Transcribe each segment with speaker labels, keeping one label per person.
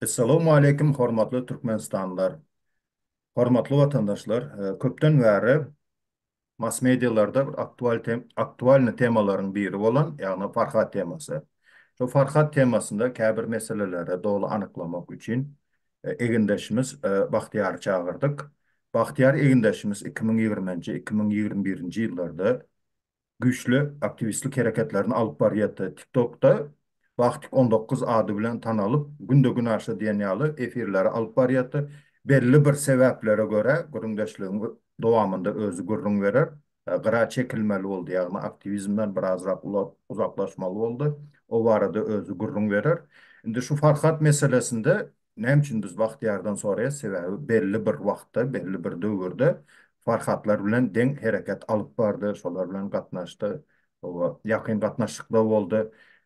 Speaker 1: Essalawmaleýkim hormatly türkmenistanlylar. Hormatly watandaşlar, köpden bäri mass-mediýalarda bir aktual tem, aktualny temalaryň biri bolan, ýagny Farhat temasy. Şu Farhat temasynda käbir meselelere doly anyklamak üçin egindeşimiz Bagtyýary çagyrdyk. Bagtyýar egindeşimiz iki müň ýigriminji, iki müň ýigrimi birinji ýyllarda güýçli aktiwistlik hereketlerini alyp barýardy. TikTok-da Bagtyk on dokuz ady bilen tanalyp, günde-günaşa diýen ýaly efirleri alyp barýardy. Belli bir sebäplere görä, gürrüňdeşligiň dowamynda özi gürrüň berer. gyra çekilmeli boldy, ýagny aktiwizmden birazrak uzaklaşmaly boldy. O barada özi gürrüň berer. Indi şu Farhat meselesinde näme üçin biz Bahtiýardan soraýas, sebäbi belli bir wagtda, belli bir döwürde Farhatlar bilen deň hereket alyp bardy, şolar bilen gatnaşdy, ýakyn gatnaşykda boldy.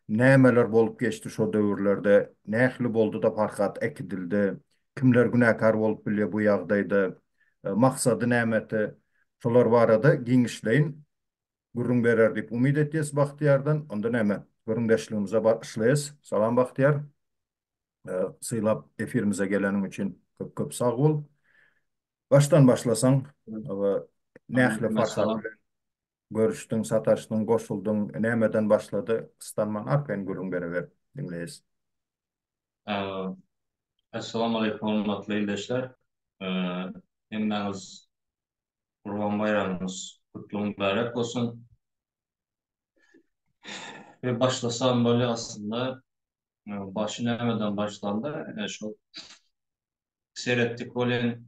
Speaker 1: Nämeler bolup geçdi şo döwürlerde, nähili boldy-da Farhat äkidildi, kimler günäkär bolup bilýär bu ýagdaýda? maksady nämeti, şolar barada giňişleýin gürrüň berer diýip umyt etýäs Bagtyýardan. Onda näme, gürrüňdeşligimize başlaýas. Salam Bagtyýar. Sylap efirimize geleniň üçin köp-köp sag bol. Başdan başlasaň, nähili farhat bilen
Speaker 2: Görüşdiň,
Speaker 1: sataşdyň, goşuldyň, nämeden başlady Stanman Arkaýyn gürrüň berewer, diňleýäs.
Speaker 2: Essalam aleýkum hormatly ildeşler. Hemmäňiz Gurban baýramyňyz gutly mübärek bolsun. Ýa başlasam bolýa aslynda. Başy nämeden başlandy? Şol seretdik welin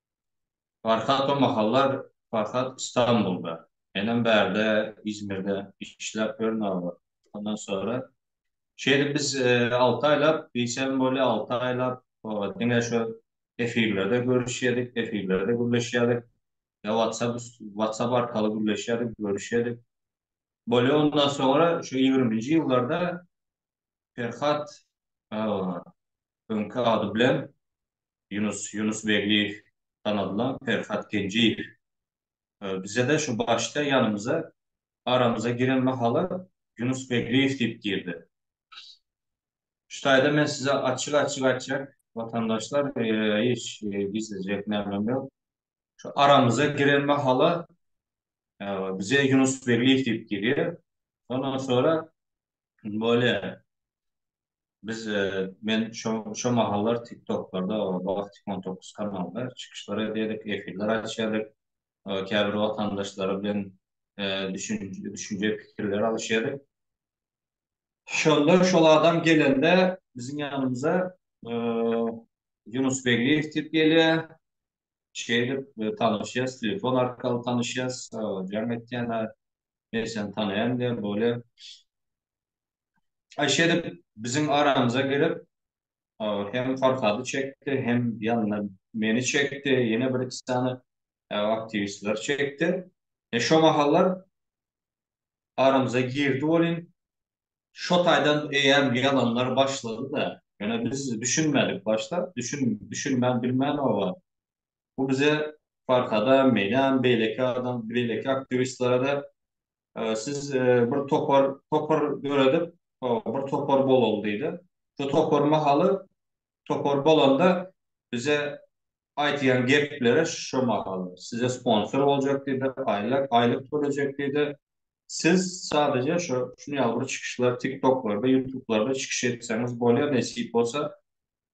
Speaker 2: Farhat o mahallar Farhat Istanbulda, menem bärde Izmirde işläp ýörün aga. Ondan soňra şeýdip biz alty aýlap, diýsem bolýar alty aýlap diňe şu efirlerde görüşýedik, efirlerde gürleşýärdik. Ýa watsap üstü, watsap arkaly gürleşýärdik, görüşýärdik. Bolýar ondan soňra şu ýigriminji ýyllarda Perhat aga, öňki ady bilen Ýunus Ýunusbegliýew tanadylan Perhat Genjiýew bize-de şu başda ýanymyza, aramyza giren mahaly Ýunus Begliýew diýip girdi. Şu taýda men size açyk-açyk aýtjak, watandaşlar, hiç gizlejek nämem ýok. Şu aramyza giren mahaly bize Ýunus Begliýew diýip girýär. Ondan sonra Bolýar. Biz men şo mahallar TikToklarda Bahat iki müň on dokuz kanalynda çykyşlar edýärdik, efirler açýardyk. Käbir watandaşlar bilen düşünje pikirler alyşýardyk. Şonda şol adam gelende biziň ýanymyza Ýunus Begliýew diýip gelýär. Şeýdip tanyşýas, telefon arkaly tanyşýas, jaň etýän Men seni tanaýan diýen bolýar. Aý şeýdip biziň aramyza girip, hem Farhady çekdi, hem ýanyna meni çekdi, ýene bir iki sany aktiwistleri çekdi. E şo mahallar aramyza girdi welin, şo taýdan eýýäm ýalanlar başlady-da. Ýöne biz düşünmedik başda, düşün, düşünmän, bilmän oba. Bu bize Farhada, menä, beýleki adam, beýleki aktiwistlere-de siz bir topar, topar döredip, bir topar bolaly diýdi. Şu topar mahaly, topar bolanda bize aýtýan gepleri şu mahaly, size sponsor boljak diýdi, aýlyk, aýlyk tölejek diýdi. Siz sadyje şu, şuny ýaly bir çykyşlar, tiktoklarda, ýutublarda çykyş etseňiz bolýar, nesip bolsa.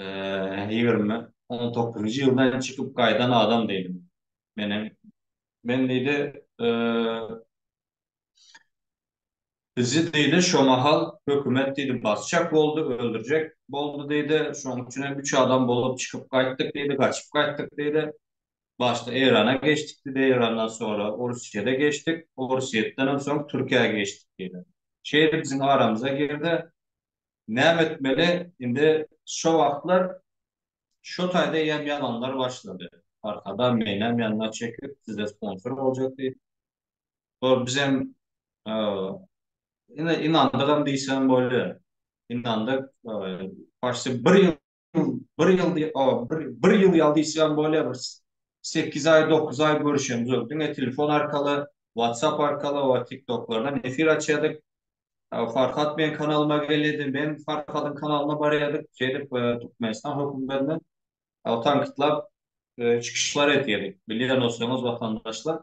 Speaker 2: ýigrimi, on dokuzynjy ýyldan çykyp gaýdan adam diýdim. Men hem Men diýdi, bizi diýdi, şo mahal hökümet diýdi, basjak boldy, öldürjek boldy diýdi. Şonuň üçin hem üç adam bolup çykyp gaýtdyk diýdi, gaçyp gaýtdyk diýdi. Başda Eýrana geçdik diýdi, Eýrandan soňra Orsýete geçdik, Orsýetden hem soň Türkiýä geçdik diýdi. Şeýdip biziň aramyza girdi. Näme etmeli? Indi şo wagtlar şo taýda eýýäm ýalanlar başlady. Arkada menem ýanyna çekip, size sponsor boljak diýip. Şol bizem ine ynandygam diýsem bolýar. Ynandyk. Başda bir ýyl bir ýyl diý, o, bir, bir ýyl ýaly diýsem bolýar, bir sekiz aý, dokuz aý görüşemizok. Diňe telefon arkaly, WhatsApp arkaly, o, TikToklardan efir açýardyk. E, Farhat meň kanalyma gelýärdi, men Farhadyň kanalyna barýardyk. Şeýdip, e, Türkmenistan hökümetine e, tankytlap e, çykyşlar etýärdik. Bilýän bolsaňyz, watandaşlar,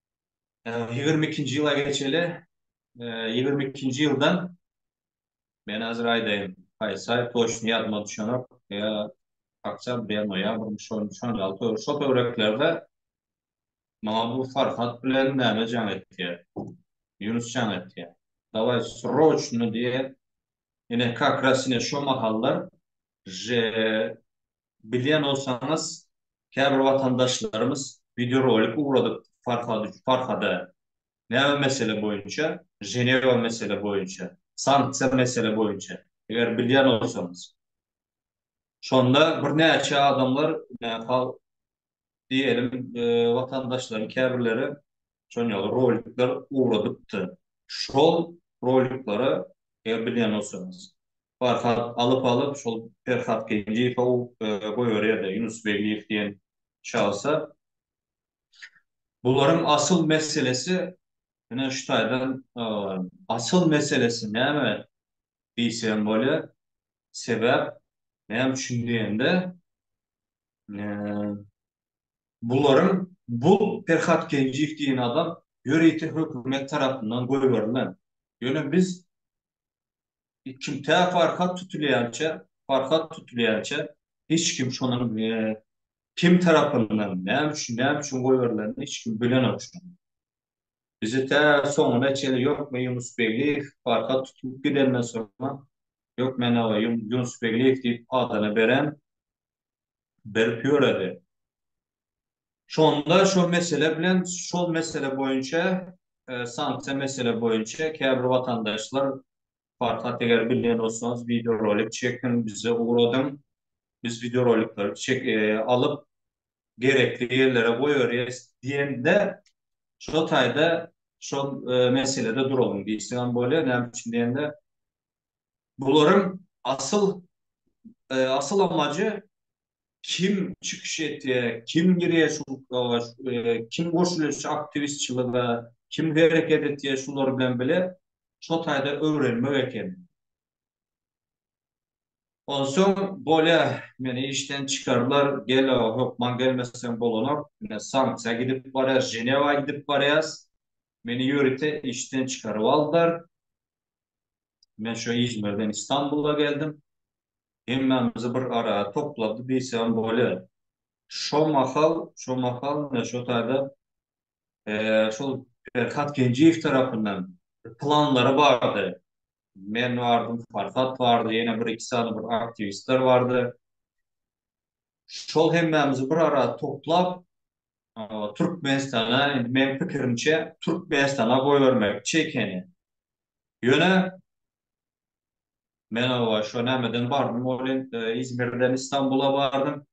Speaker 2: Ýigrimi ikinji ýyla geçeli, ýigrimi ikinji ýyldan men häzir aýdaýyn, haýsy aý toçny ýadyma düşenok, ýa oktýabr, ýa noýabrmy şol, şol ýaly töwir, şo töwereklerde maňa bu Farhat bilen näme jaň etýär, Ýunus jaň etýär. Dawaý, sroçno diýýär. Ine, kakras ine şo mahallar je Bilýän bolsaňyz, käbir watandaşlarymyz wideorolik ugradyp Farhada, näme mesele boýunça, Ženewa mesele boýunça, sanksiýa mesele boýunça, eger bilýän bolsaňyz. Şonda birnäçe adamlar nähal diýelim, watandaşlaryň käbirleri şon ýaly rolikler ugradypdy. Şol roliklere, eger bilýän bolsaňyz, barha alyp alyp, şol Perhat Genjiýewe goýberýärdi, Ýunus Begliýew diýen şahsa. Bularyň asyl meselesi ine şu taýdan, asyl meselesi näme diýseň bolýar, Sebäp näme üçin diýende, bularyň bu Perhat Genjiýew diýen adam ýörite hökümet tarapyndan goýberilen. Ýöne biz kim tä Farhat tutulýança, Farhat tutulýança hiç kim şonuň kim tarapyndan, näme üçin, näme üçin goýberilenini hiç kim bilenok şonuň. Bizi tä soňuna çenli Ýokmy Ýunus Begliýew barka tutup gidenden soňra Ýok men aga Ýunus Begliýew diýip adyny beren berip ýöredi. Şonda şol mesele bilen şol mesele boýunça sanksiýa mesele boýunça käbir watandaşlar Farhat eger bilýän bolsaňyz wideo rolik çekiň bize ugradyň. Biz wideo rolikleri çek alyp gerekli ýerlere goýarys diýende şo taýda şol meselede duralyň diýsegem bolýar. Näme üçin diýende bularyň asyl asyl amajy Kim çykyş etýär, kim girýär şu gutlaga, kim goşulýar şu aktiwistçilige, kim hereket etýär şular bilen bile şo taýda öwrenmek ekeni. Onsoň bolýar, meni işden çykarlar, gel-a, hökman gelmeseň bolanok, ine sanksiýa gidip barýas, Ženewa gidip barýas, meni ýörite işden çykaryp aldylar. Men şu İzmirden İstanbula geldim. Hemmämizi bir araya toplady diýsem bolýar. Şo mahal, şo mahal ne şo taýda şol Perhat Genjiýew tarapyndan planlary bardy. Men bardym, Farhat bardy, ýene bir-iki sany bir aktiwistler bardy. Şol hemmämizi bir araya toplap, Türkmenistana indi meň pikirimçe Türkmenistana goýbermekçi ekeni. Ýöne men oba şo nämeden bardym ol Izmirden Istanbula bardym.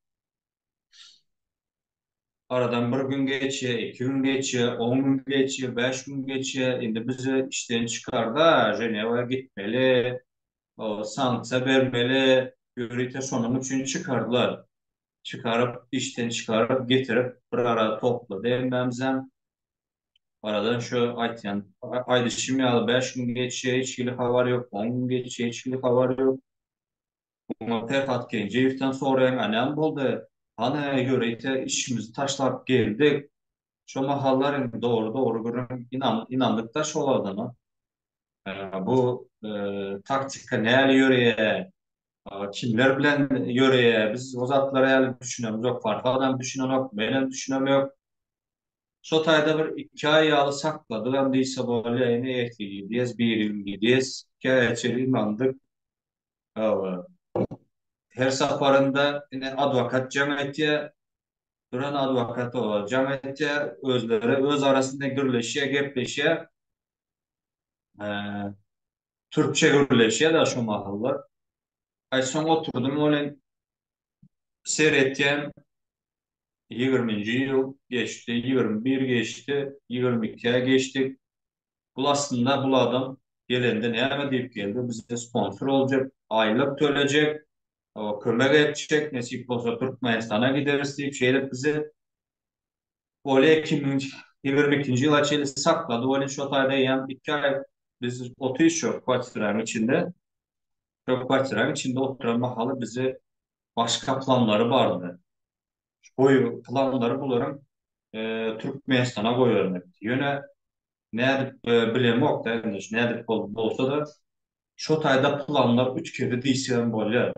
Speaker 2: Aradan bir gün geçýär, iki gün geçýär, on gün geçýär, bäş gün geçýär. Indi bizi işden çykarda Ženewa gitmeli, sanksiýa bermeli, ýörite şonuň üçin çykardylar. çykaryp, işden çykaryp, getirip, bir ara toplady hemmämizem. Aradan şu aýtýan aýdyşym ýaly bäş gün geçýär, hiç hili habar ýok, on gün geçýär, hiç hili habar ýok. Muňa Perhat Geýjewden soraýan, A näme boldy? Hany, ýörite işimizi taşlap geldik. Şo mahallar indi dogry-dogry gürrüň ynandyk-da şo zadana. Bu taktika näle ýöreýär, kimler bilen ýöreýär, biz o zatlara ýaly düşünemzok, Farhad hem düşünenok, men hem düşünemok. Şo taýda bir iki aý ýaly sakladygam diýse bolýar, ine ertir gidýäs, biri gün gidýäs, iki aýa çenli ynandyk. Hawa. Her saparynda ine adwokat jaň etýär, Duran adwokat ola jaň etýär, özleri öz arasynda gürleşýär, gepleşýär. Türkçe gürleşýär da şo mahallar. Aý soň oturdym welin seretýän ýigriminji ýyl geçdi, ýigrimi bir geçdi, ýigrimi ikä geçdik. Bul aslynda bul adam gelende näme diýip geldi, bize sponsor boljak, aýlyk tölejek, kömek etjek, nesip bolsa Türkmenistana gideris diýip, şeýdip bizi ol iki müň ýigrimi ikinji ýyla çenli saklady welin, şo taýda eýýäm iki aý biz otuz çöp kwartiranyň içinde, çöp kwartiranyň içinde oturan mahaly bizi başga planlary bardy. Goýy planlary bularyň Türkmenistana goýaryn etdi. Ýöne Nädip bilemokda indi şu nädip boldy bolsada şo taýda pul alnyp üýtgedi diýsem bolýar.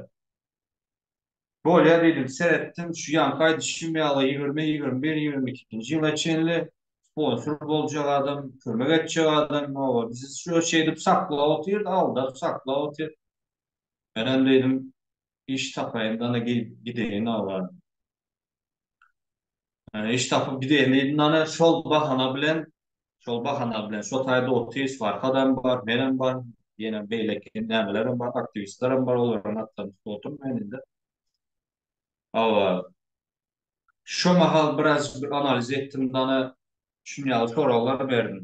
Speaker 2: Bolýa diýdim seretdim şu ýanky aýdyşym ýaly ýigrimi ýigrimi bir ýigrimi ikinji ýyla çenli sponsor boljak adam kömek etjek adam hawa bizi şu şeýdip saklap otyr aldap saklap otyr menem diýdim iş tapaýyn dana gideýin awa. Iş tapyp gideýin diýdim ane şol bahana bilen, şol bahana bilen şo taýda otyrys, Farhadam bar, menem bar, ýene beýleki nämelerem bar, aktiwistlerem bar, olaryň atlaryny tutup oturmaýyn indi. Hawa, şo mahal biraz bir analiz etdim dana, şuny ýaly soraglar berdim.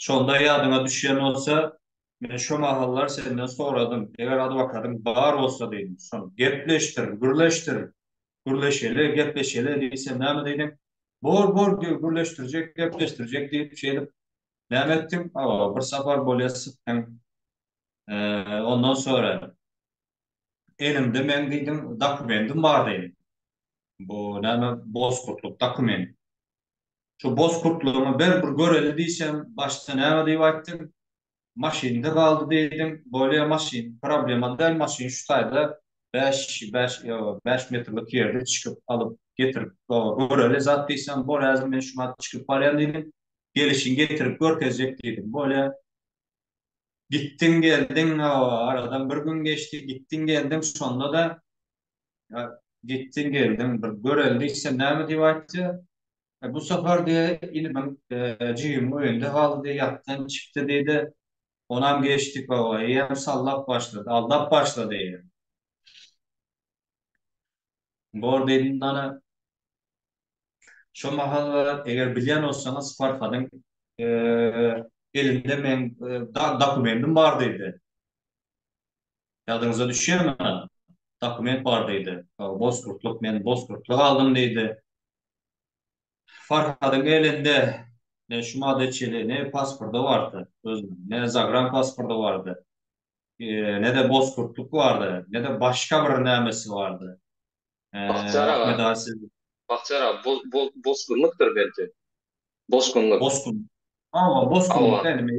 Speaker 2: Şonda ýadyňa düşýän bolsa, men şo mahallar senden soradym, eger adwokatyň bar bolsa diýdim, şony gepleşdirin, gürleşdirin, gürleşeli, gepleşeli diýsem näme diýdiň? Bor, bor, gürleşdirjek, gepleşdirjek diýip, şeýdip, näme etdiň? Awa, bir sapar bolýa sypdyň. Ondan sonra, elimde meň diýdiň, dokumentim bar diýdim. Bu näme bozkurtlyk dokument. Şu bozkurtlaryňy ber bir göreli diýsem, başda näme diýip aýtdym? Maşynda galdy diýdim. Bolýa maşyn, problema däl, maşyn şu taýda bäş, bäş, bäş metrlik ýerde çykyp alyp getirip göreli zat diýsem, bor häzir men şuňa çykyp barýan diýdim. Gelişiň getirip görkezjek diýdim. Bolýa. Gitdiň geldiň aradan bir gün geçdi gitdiň geldiň şonda-da gitdiň geldiň bir görelde sen näme diýip aýtdy bu sapar diýdi ilimiň jigim öýünde galdy ýatdan çykdy diýdi onam geçdi hawa eýýäm sallap başlady aldap başlady eýýäm bor diýdim dana Şo mahallar eger bilýän bolsaňyz Farhadyň elinde meň dokumentim bar diýdi. Ýadyňyza düşýärmi? Dokument bar diýdi. Bozkurtlyk men bozkurtlyk aldym diýdi. Farhadyň elinde ne şu mada çeli ne pasporty bardy özüniň. Ne zagran pasporty bardy. Ne-de bozkurtlyk bardy. Ne-de başga bir nämesi bardy. Bagtyýar
Speaker 3: aga. Ahmet aga siz. Bagtyýar
Speaker 2: aga bu
Speaker 3: bu bosgunlykdyr belki. Bosgunlyk. Bosgun.
Speaker 2: Hawa bosgunlyk däl men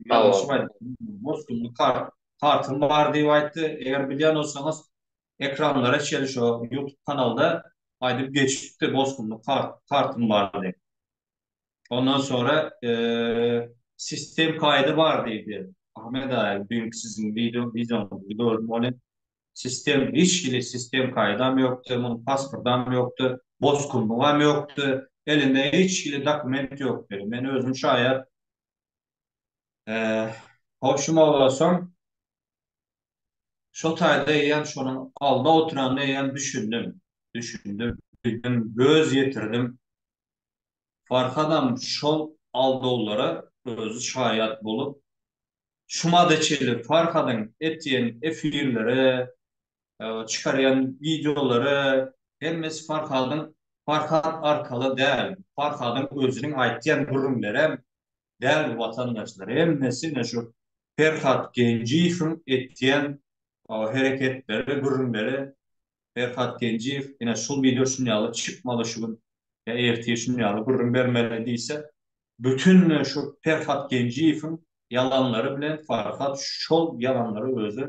Speaker 2: ýalňyşyp aýdypdyryn. Bosgunlyk
Speaker 3: kart
Speaker 2: kartym bar diýip aýtdy. Eger bilýän bolsaňyz ekranlara şeýle şo ýutub kanalda aýdyp geçipdi bosgunlyk kart kartym bar diýip. Ondan soňra sistem kaýdy bar diýdi. Ahmet aga düýnki siziň wideoňyzy gördüm ony. Sistem hiç hili sistem kaýdam ýokdy, muň pasportam ýokdy, bosgunlygam ýokdy, elinde hiç hili dokument ýokdy. Men özüm şaýat. Eee, hop şu mowlasam şo taýda eýýäm şonuň alda oturanyna eýýäm düşündim. Düşündim, bildim, göz ýetirdim. Farhadam şol aldawlara özi şaýat bolup, Şumada çenli Farhadyň etýän efirleri, çykarýan wideolary hemmesi Farhadyň Farhad arkaly däl, Farhadyň özüniň aýtýan gürrüňlerem däl watandaşlar. Hemmesi ine şu Perhat Genjiýewiň etýän hereketleri, gürrüňleri Ferhat Genjiýew ine şul wideo şun ýaly çykmaly şu gün ýa ertir şun ýaly gürrüň bermeli diýse bütinleý şu Ferhat Genjiýewiň ýalanlary bilen Farhat şol ýalanlara özi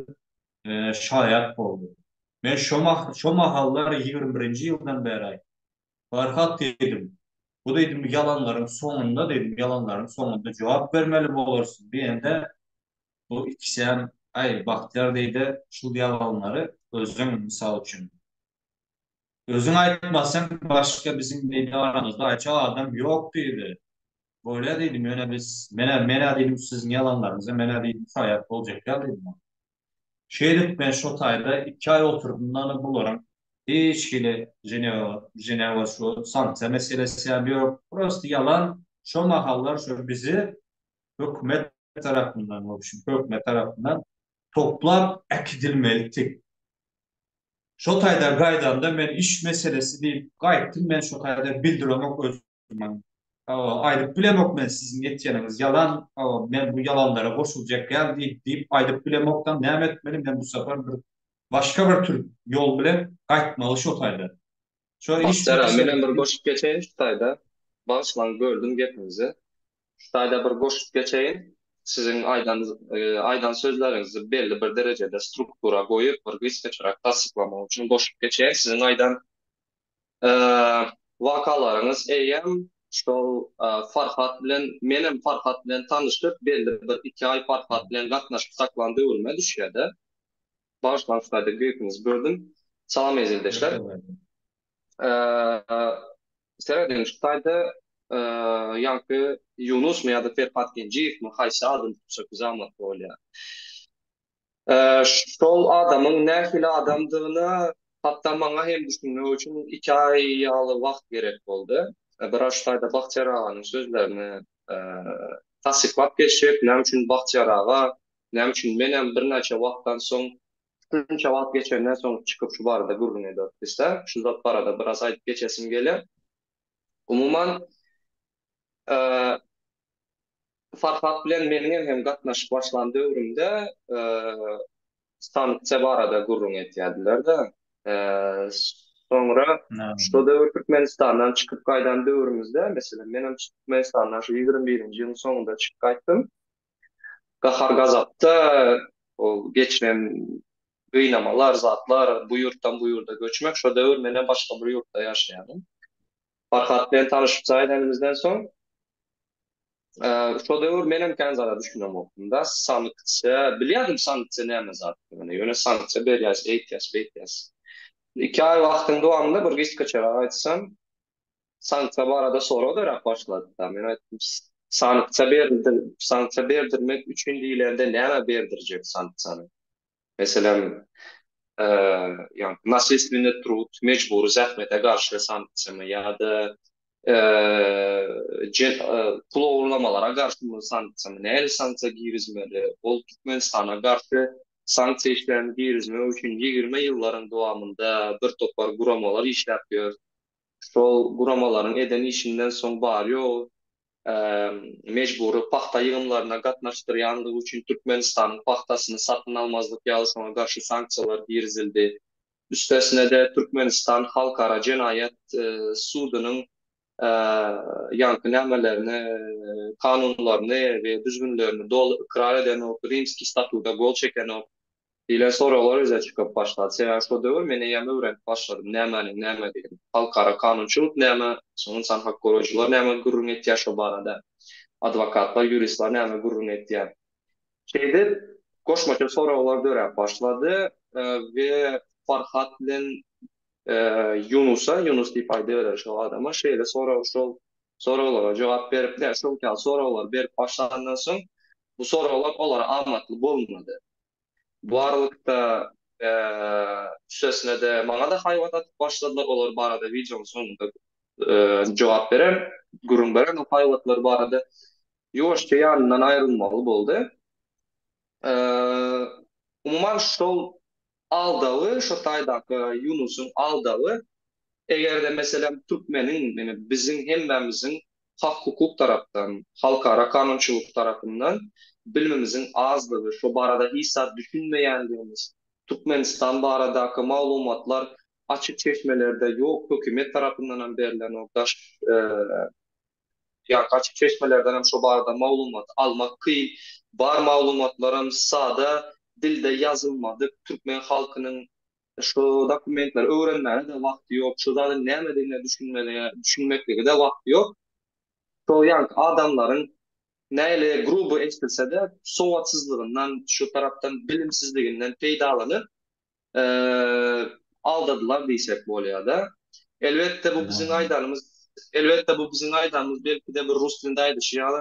Speaker 2: şaýat boldy. Men şo mahallar ýigrimi birinji ýyldan bäraý Farhat diýdim bu diýdim ýalanlaryň soňunda diýdim ýalanlaryň soňunda jogap bermeli bolarsyň diýende bu ikisem, Aý, Bagtyýar deý-de, şul ýalanlary özüň, mysal üçin, özüň aýtmasaň, başga biziň beýle aramyzda aýtjak adam ýok diýdi. Bolýa diýdim, ýöne biz, men-ä, men-ä diýdim, siziň ýalanlaryňyza men-ä diýdim, şaýat boljak däl diýdim oňa. Şeýdip, men şo taýda iki aý oturdym-da, bularyň hiç hili Ženewa, Ženewa şu sanksiýa meselesem ýok, prosta ýalan, şo mahallar şo bizi hökümet tarapyndan bolsun, hökümet tarapyndan toplap äkidilmeli tig. Şo taýdan gaýdamda men iş meselesi diýip gaýtdym, men şo taýda bildiremok özümiň. Aýdyp bilemok men siziň etýäniňiz ýalan, men bu ýalanlara goşuljak däl diýip diýip aýdyp bilemokdam, näme etmeli, men bu sapar bir başga bir tür ýol bilen gaýtmaly şo taýda. Şo iş Bagşyra menem bir goşup
Speaker 3: geçeýin şu
Speaker 2: taýda.
Speaker 3: Bagyşlaň böldüm gepiňizi. Şu taýda bir goşup geçeýin. Siziň aýdan aýdan sözleriňizi belli bir derejede struktura goýup bir gysgaçyrak tassyklamak üçin goşup geçeýin. Siziň aýdan wakalaryňyz eýýäm şol Farhat bilen menem Farhat bilen tanyşdyk belli bir iki aý Farhat bilen gatnaşyk saklan döwrüme düşýärdi. Bagyşlaň Skype-da gepinizi böldüm. Salam eziz ildeşler. Serediň Skype-da ýaňky Ýunusmy ýa-da Ferhat Genjiýewmi haýsy adam tutsa ki zahmet bolýa. Şol adamyň nähili adamdygyna hatda maňa hem düşünmek üçin iki aý ýaly wagt gerek boldy. Biraz Skype-da Bagtyýar aganyň sözlerini tassyklap geçjek. Näme üçin Bagtyýar aga Näme üçin? Menem birnäçe wagtdan soň, şunça wagt geçenden soň çykyp şu barada gürrüň ederisdä, şu zat barada biraz aýdyp geçesim gelýär. Umuman, Farhat bilen meniňem hem gatnaşyp başlan döwrümde stansiýa barada gürrüň edýärdiler-de. Soňra şu döwür Türkmenistandan çykyp gaýdan döwrümizde, meselem, menem Türkmenistandan şu ýigrimi birinji ýylyň soňunda çykyp gaýtdym. gahar-gazapda ol geçiren gynamalar, zatlar, bu ýurtdan bu ýurda göçmek, şo döwür menem başga bir ýurtda ýaşaýardym. Farhat bilen tanyşyp jaý edenimizden soň, şo döwür menem kän zada düşünemokdym-da, sanksiýa, bilýärdim sanksiýa näme zatdygyny, ýöne sanksiýa berýäs, eýtýäs, beýtýäs. Iki aý wagtyň dowamynda bir gysgaçarak aýtsam, sanksiýa barada sorag döräp başlady-da. Men aýtdym, Sanksiýa berildi, sanksiýa berdirmek üçin diýlende nämä berdirjek sanksiýany? Meselem, ýagny nasleственny trud, mejbury zähmete garşy sanksiýamy ýa-da pul ogurlamalara garşymy sanksiýamy, nähili sanksiýa girizmeli? Ol Türkmenistana garşy sanksiýa işlerini girizmek üçin ýigrimi ýyllaryň dowamynda birtopar guramalar işläp ýör. Şol guramalaryň eden işinden soň bary-ýogy mejbury pagta ýygymlaryna gatnaşdyrýandygy üçin Türkmenistanyň pagtasyny satyn almazlyk ýaly şoňa garşy sanksiýalar girizildi. Üstesine-de, Türkmenistan Halkara jenaýat sudunyň ýaňky nämelerini, kanunlaryny we düzgünlerini doly ykrar edenok, Rimskiý statuta gol çekenok. Diýlen soraglar ýüze çykyp başlady. Sebäbi şo döwür men eýýäm öwrenip başladym, nämäniň nämedigini. Halkara kanunçylyk näme, soň ynsan hak goraýjylar näme gürrüň etýär şo barada. Adwokatlar, ýuristler näme gürrüň etýär. Şeýdip, goşmaça soraglar döräp başlady we Farhat bilen Ýunusa, Ýunus diýip aýdybereli şo adama, şeýle sorag, şol soraglara jogap beripler. Şol ýaly soraglar berip başlandan soň, bu soraglar olara amatly bolmady. Bu aralykda, üstesine-de maňa-da haýbat atyp başladylar. Olar barada wideonyň soňunda jogap bererin, gürrüň bererin o haýbatlar barada. Ýuwaşja ýanyndan aýrylmaly boldy. Umuman, şol aldawy, şo taýdaky Ýunusyň aldawy, eger-de, meselem, türkmeniň, ýöne biziň hemmämiziň hak-hukuk tarapdan, halkara kanunçylyk tarapyndan bilimimiziň azdygy, şo barada hiç zat düşünmeýändigimiz, Türkmenistan baradaky maglumatlar açyk çeşmelerde ýok, hökümet tarapyndanam berlenok, daş ýanky açyk çeşmelerdenem şo barada maglumaty almak kyn, bar maglumatlaram sada dilde ýazylmadyk, türkmen halkynyň Şu dokumentleri öwrenmäge-de wagty ýok, şu zadyň nämedigine düşünmäge, düşünmeklige-de wagty ýok. Şol ýaňky adamlaryň näle gruby eşdilse-de, sowatsyzlygyndan, şu tarapdan bilimsizliginden peýdalanyp, aldadylar diýsek bolýar-da. Elbetde, bu biziň aýdanymyz, elbetde, bu biziň aýdanymyz, belki-de, bir rus dilinde aýdyşy ýaly,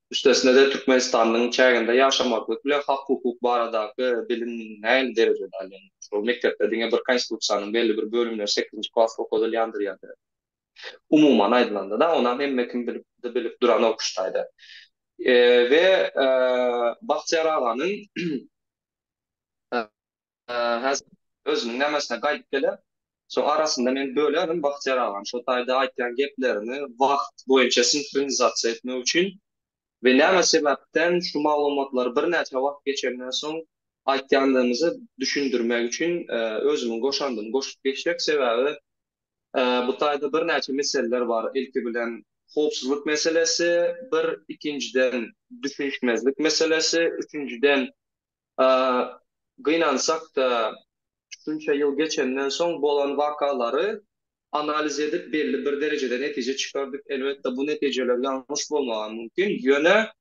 Speaker 3: Üstesine-de Türkmenistanyň çäginde ýaşamazlyk bilen hak-hukuk baradaky bilim nähili derejede alýan? Şol mekdepde diňe bir Konstitusiýanyň belli bir bölümleri sekizinji klasda okadylýandyr ýa-da umuman aýdylanda-da, onam hemme kim bilip, bilip duranok şu taýda. We Bagtyýar aganyň Häzir özüniň nämesine gaýdyp geler. Soň arasynda men bölerin Bagtyýar agam şo taýda aýtýan geplerini wagt boýunça sinhronizasiýa etmek üçin we näme sebäpden şu maglumatlary birnäçe wagt geçenden soň aýtýandygymyzy düşündirmek üçin özümiň goşandymy goşup geçjek sebäbi bu taýda birnäçe meseleler bar ilki bilen howpsuzlyk meselesi bir ikinjiden düşünişmezlik meselesi üçünjiden gynansak-da, şunça ýyl geçenden soň bolan wakalary analiz edip belli bir derejede netije çykardyk. Elbetde, bu netijeler ýalňyş bolmagam mümkin, ýöne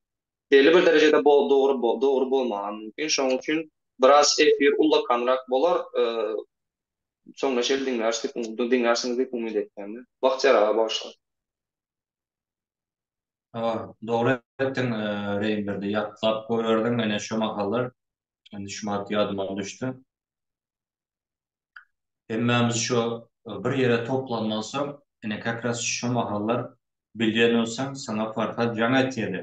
Speaker 3: belli bir derejede dogry bolmagam mümkin. Şonuň üçin biraz efir ullakanrak bolar. Soňuna çenli diňlärsiňiz diýip umyt edýän. Bagtyýar aga bagyşla.
Speaker 2: Dogry etdiň Reýnberdi ýatlap goýberdiň menä şo mahallar indi şumat ýadyma düşdi. Hemmämiz şo bir ýere toplandan soň ine kakras şo mahallar bilýän bolsaň saňa Farhad jaň etýedi.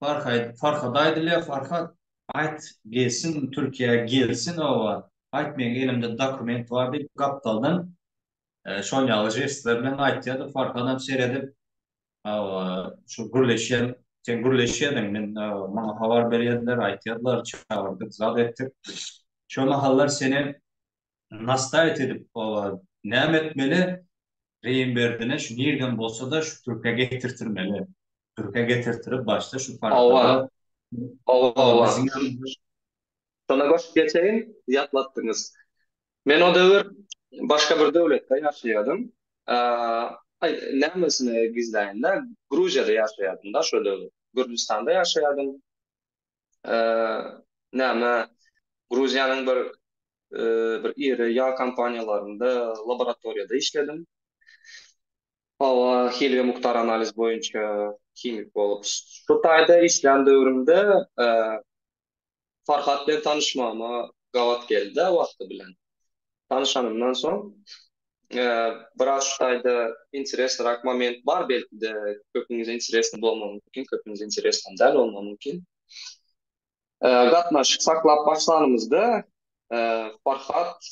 Speaker 2: Farhaý Farhada aýdylýar Farhat aýt gelsin Türkiýä gelsin oba aýt meň elimde dokument bar diýip gapdaldan şol ýaly jestler bilen aýtýardy Farhadam seredip oba şu gürleşýän sen gürleşýädiň men maňa habar berýärdiler aýtýardylar çagyrdyk zat etdik şo mahallar senem nastaýat edip näme etmeli, Reýimberdine şu nireden bolsa-da şu türke getirtirmeli. Türke getirtirip başda şu partada. Oba-oba.
Speaker 3: Şonda goşup geçeýin, ýatlatdyňyz. Men o döwür başga bir döwletde ýaşaýardym. Nämesine gizläýin-dä, Gruziýada ýaşaýardym-da şo döwür. Gürjüstanda ýaşaýardym. näme Gruziýanyň bir bir iri ýag kompaniýalarynda laboratoriýada işledim. Hawa, hil we mukdar analiz boýunça himik bolup. Şu taýda işlän döwrümde Farhat bilen tanyşmagyma gabat geldi-de wagty bilen. Tanyşanymdan soň biraz şu taýda interesnyrak moment bar, belki-de köpüňize interesni bolmagy mümkin, köpüňize interesli hem däl bolmagy mümkin. Gatnaşyk saklap başlanymyzda Farhat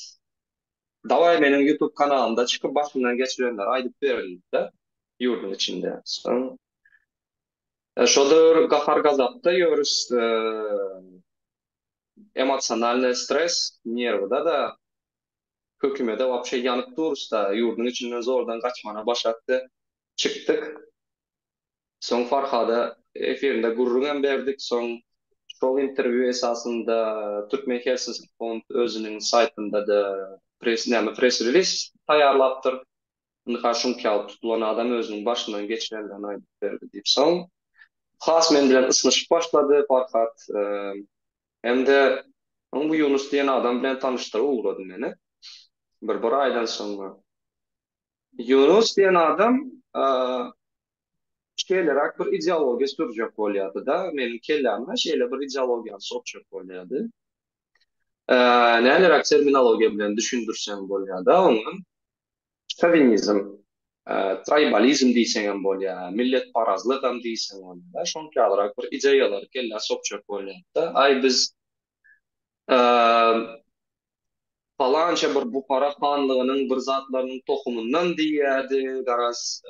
Speaker 3: Dawaý meniň YouTube kanalymda çykyp başymdan geçirenleri aýdyp ber diýdi-de, ýurduň içinde. Soň şo döwür gahar-gazapda ýörüs, emosionalnyý stres, nerwda-da Hökümede wapşe ýanyp durus da ýurduň içinden zordan gaçmana baş atdy. Çykdyk. Soň Farhada efirinde gürrüňem berdik. Soň şol interwýu esasynda Türkmen Helsinski Fond özüniň saýtynda-da pres näme pres-reliz taýýarlapdyr. Ynha şuňky alyp tutulan adam özüniň başyndan geçirendigini aýdyp berdi diýip. Soň has men bilen ysnyşyp başlady Farhat. Hem-de oň bu Ýunus diýen adam bilen tanyşdyryp ugrady meni. Bir bir aýdan soňra. Ýunus diýen adam şeýleräk bir ideologiýa sürjek bolýardy-da, meniň kelläme şeýle bir ideologiýany sokjak bolýardy. Näleräk terminologiýa bilen düşündirseň bolýar-da oňa. Şovinizm, traýbalizm diýseňem bolýar, milletparazlygam diýseň bolýar-da, şoňkagyrak bir ideýalar kellä sokjak bolýardy-da, aý, biz palança bir bukara hanlygynyň bir zatlarynyň tohumyndan diýýärdi, garaz,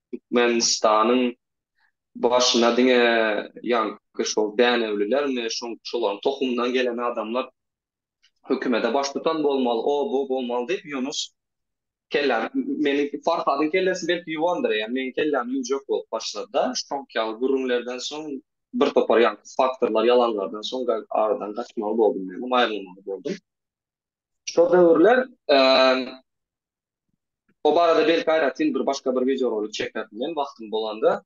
Speaker 3: Türkmenistanyň başyna diňe ýaňky şol dänewlilermi, şolaryň tohumyndan gelen adamlar Hökümede baştutan bolmaly, o, bu bolmaly diýip, Ýunus kelläni, meniň Farhadyň kellesi belki ýuwandyr, ýa meniň kellämi ýuwjak bolup başlady-da, şoňk ýaly gürrüňlerden soň, bir topar ýalňyz faktorlar, ýalanlardan soň ga, aradan gaçmaly boldum men, hem aýrylmaly boldum. Şo döwürler, o barada belki aýratyn bir başga bir wideorolik çekerin men, wagtym bolanda.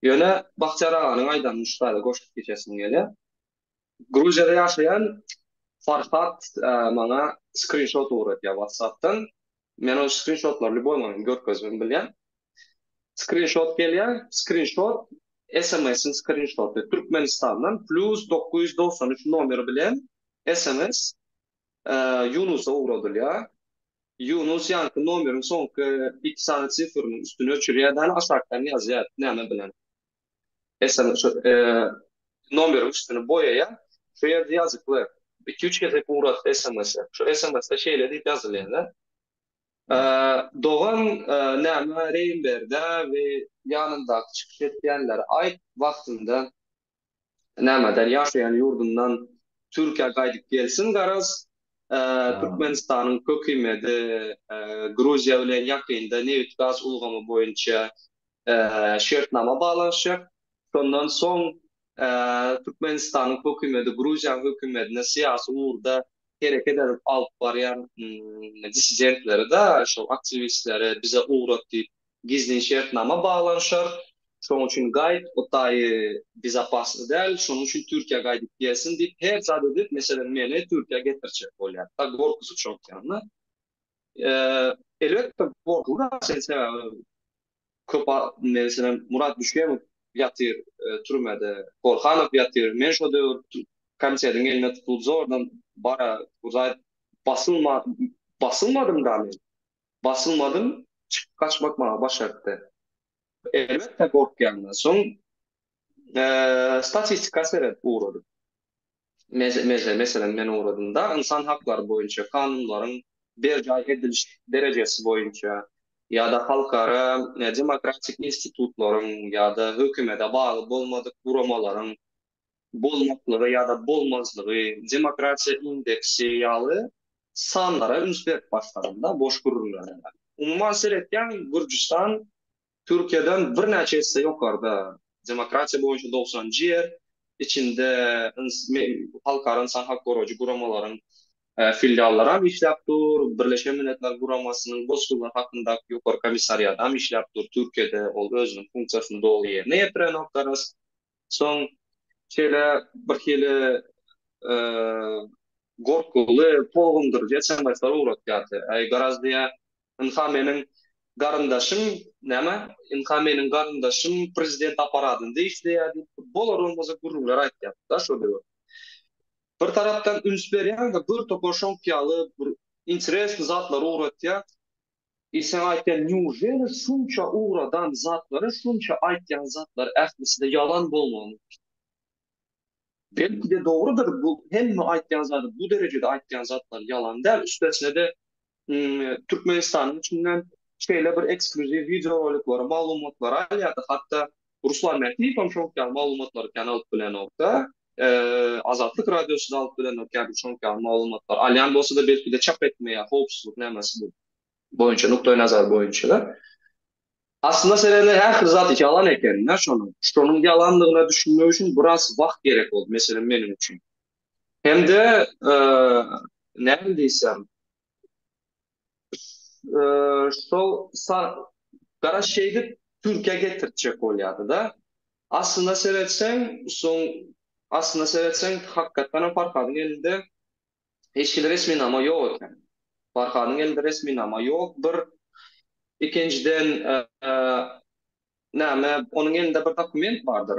Speaker 3: Ýöne Bagtyýar aganyň aýdanyny şu taýda goşup geçesim gelýär. Gruziýada ýaşaýan Farhat maňa skrinşot ugratýar WhatsApp-dan. Men ol skrinşotlary lýuboý momenty görkezibem bilýän. Skrinşot gelýär, skrinşot SMS-iň skrinşoty, Türkmenistandan plus dokuz ýüz dogsan üç nomeri bilen sms Ýunusa ugradylýar. Ýunus ýaňky nomeriň soňky iki sany sifriniň üstüni öçürýär-de, aşakdan ýazýar, näme bilen. Esasan şu nomeriň üstüni boýaýaň. Şu ýerde ýazyklar. Iki-üç gezek ugrat SMS-e. Şu SMS-de şeýle diýip ýazylýar. Dogan näme reýim ber-dä we ýanyndaky çykyş etýänlere aýt, wagtynda nämeden ýaşaýan ýurdundan Türkiýä gaýdyp gelsin garaz. Türkmenistanyň hökümedi Gruziýa bilen ýakynda nebit-gaz ulgamy boýunça şertnama baglanyşýar. Şondan soň Türkmenistanyň hökümeti Gruziýanyň hökümetine syýasy ugurda hereket edip alyp barýan dissidentleri-de, şol aktiwistleri bize ugrat diýip, gizlin şertnama baglanyşar. Şonuň üçin gaýt, bu taýy bezopasny däl, şonuň üçin Türkiýä gaýdyp gelsin diýip, her zat edip, meselem, meni Türkiýä getirjek bolýar. Gorkusy çoňkyranda. Elbetde gorkuly şeýle sebäbi köp meselem Murat Düşemow ýatyr türmede, Gorhanow ýatyr, men şo döwür komitetiň eline tutulyp zordan bara gurzaýyp basylma basylmadym da men. Basylmadym çykyp gaçmak maňa başartdy. Elbetde gorkýan. Soň statistika seret ugrady. Meselem, men ugradym-da, ynsan haklary boýunça kanunlaryň berjaý ediliş derejesi boýunça ýa-da halkara demokratik institutlaryň ýa-da hökümede bagly bolmadyk guramalaryň bolmaklygy ýa-da bolmazlygy, demokratiýa indeksi ýaly sanlara üns berip başladym-da, boş gürrüňlere. Umuman seretýäň, Gürjüstan Türkiýeden birnäçe esse ýokarda, demokratiýa boýunça dogsanjy ýer, içinde halkara ynsan hak goraýjy guramalaryň filiallaram işläp dur, Birleşen Milletler Guramasynyň Boş suwlar hakyndaky ýokary komissariatam işläp dur, Türkiýede ol özüniň funksiýasyny doly ýerine ýetirenok garaz. Soň şeýle birhili gorkuly, tolgundyryjy SMS-ler ugratýardy. Äý, garaz diýýä, ynha meniň garyndaşym, näme, ynha meniň garyndaşym prezident apparatynda işleýär diýip, bolar-bolmazak gürrüňler aýtýardy-da şol döwür. Bir tarapdan üns berýäň-de, bir topar şoňky ýaly bir interesli zatlary ugratýar. Isem aýtýan nýuželi şunça ugradan zatlary şunça aýtýan zatlary ähliside ýalan bolmagy mümkin. Belkide dogrudyr bu hemme aýtýan zady bu derejede aýtýan zatlary ýalan däl üstesinede Türkmenistanyň içinden şeýle bir ekskluziw wideorolikleri maglumatlary alýardy hatda Ruslan Mätiýewem şoň ýaly maglumatlary kän alyp bilenokda. Azatlyk Radiosy-da alyp bilenok käbir şoň ýaly maglumatlary. Alýan bolsa-da belki-de çap etmeýär, howpsuzlyk nämesi bu boýunça, nukdaýnazar boýunça-da. Aslynda serende ähli zat ýalan eken-dä şonuň. Şonuň ýalandygyna düşünmek üçin biraz wagt gerek boldy, meselem, meniň üçin. Hem-de näme diýsem, şol gara şeýdip türkiýä getirtjek bolýardy-da. Aslynda seretseň, soň aslynda seretseň, hakykatdan hem Farhadyň elinde hiç hili resminama ýok eken. Farhadyň elinde resminama ýok, bir. Ikinjiden, näme, onuň elinde bir dokument bardyr.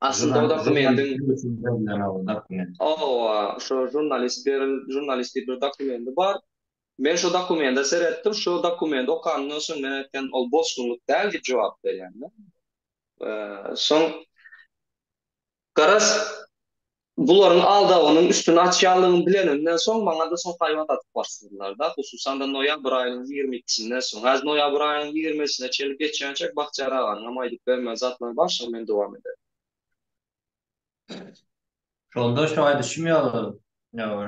Speaker 3: Aslynda o dokumendiň Owa, şo žurnalist beren žurnalistik bir dokumendi bar. Men şo dokumende seretdim, şo dokumendi okanymdan soň men aýtdym, ol bosgunlyk däl diýip jogap berýän-de. Soň garaz, Bularyň aldawynyň üstüni açýandygymy bilenimden soň, maňa-da soň haýbat atyp başladylar-da. Hususan-da, noýabr aýynyň ýigrimi ikisinden soň. Häzir noýabr aýynyň ýigrimesine çenli geçýänçäk Bahtyýar aganyňam aýdyp bermeli zatlary bar, şony men dowam ederin.
Speaker 2: Şonda şu aýdyşym ýaly,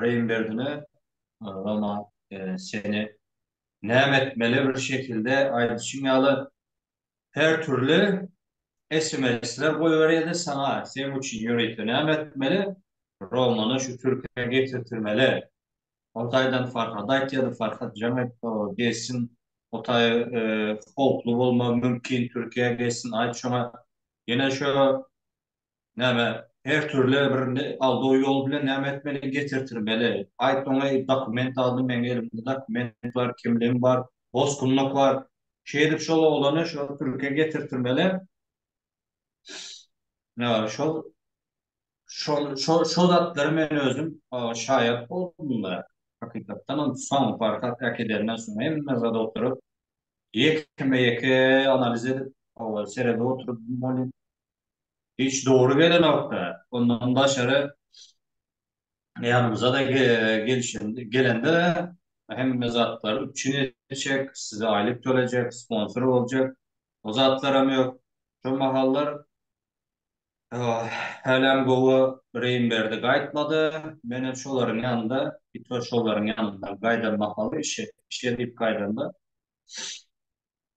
Speaker 2: Reýmberdine, Roman, seni näme etmeli, bir şekilde aýdyşyň ýaly, Her türli sms-ler goýberýärdi saňa, seň üçin ýörite näme etmeli? Romany şu türküne getirtirmeli. Ol taýdan Farhada aýtýardy, Farhat jaň et, o gelsin, o taý howply bolmagy mümkin, Türkiýä gelsin, aýt şoňa. Ýene şo Näme, her türlü bir aldaw ýol bilen näme etmeli, getirtirmeli. Aýt oňa, dokument aldym meň elimde dokument bar, kimligim bar, bosgunlyk bar. Şeýdip şol oglany şo türke getirtirmeli. Şol şol şo zatlara men özüm şaýat boldum-da. Hakykatdanam soň Farhat äkidenden soň hemme zat oturyp, ýekme-ýeke analiz edip, seredip oturdym welin, Hiç dogry gelenokda ondan daşary ýanyňyza da gelişende gelende hemme zatlary üpjün etjek size aýlyk tölejek sponsor boljak o zatlaram ýok şo mahallar hälem gowy Reýimberdi gaýtmady menem şolaryň ýanynda bito şolaryň ýanynda gaýdan mahaly işe işe diýip gaýdanda.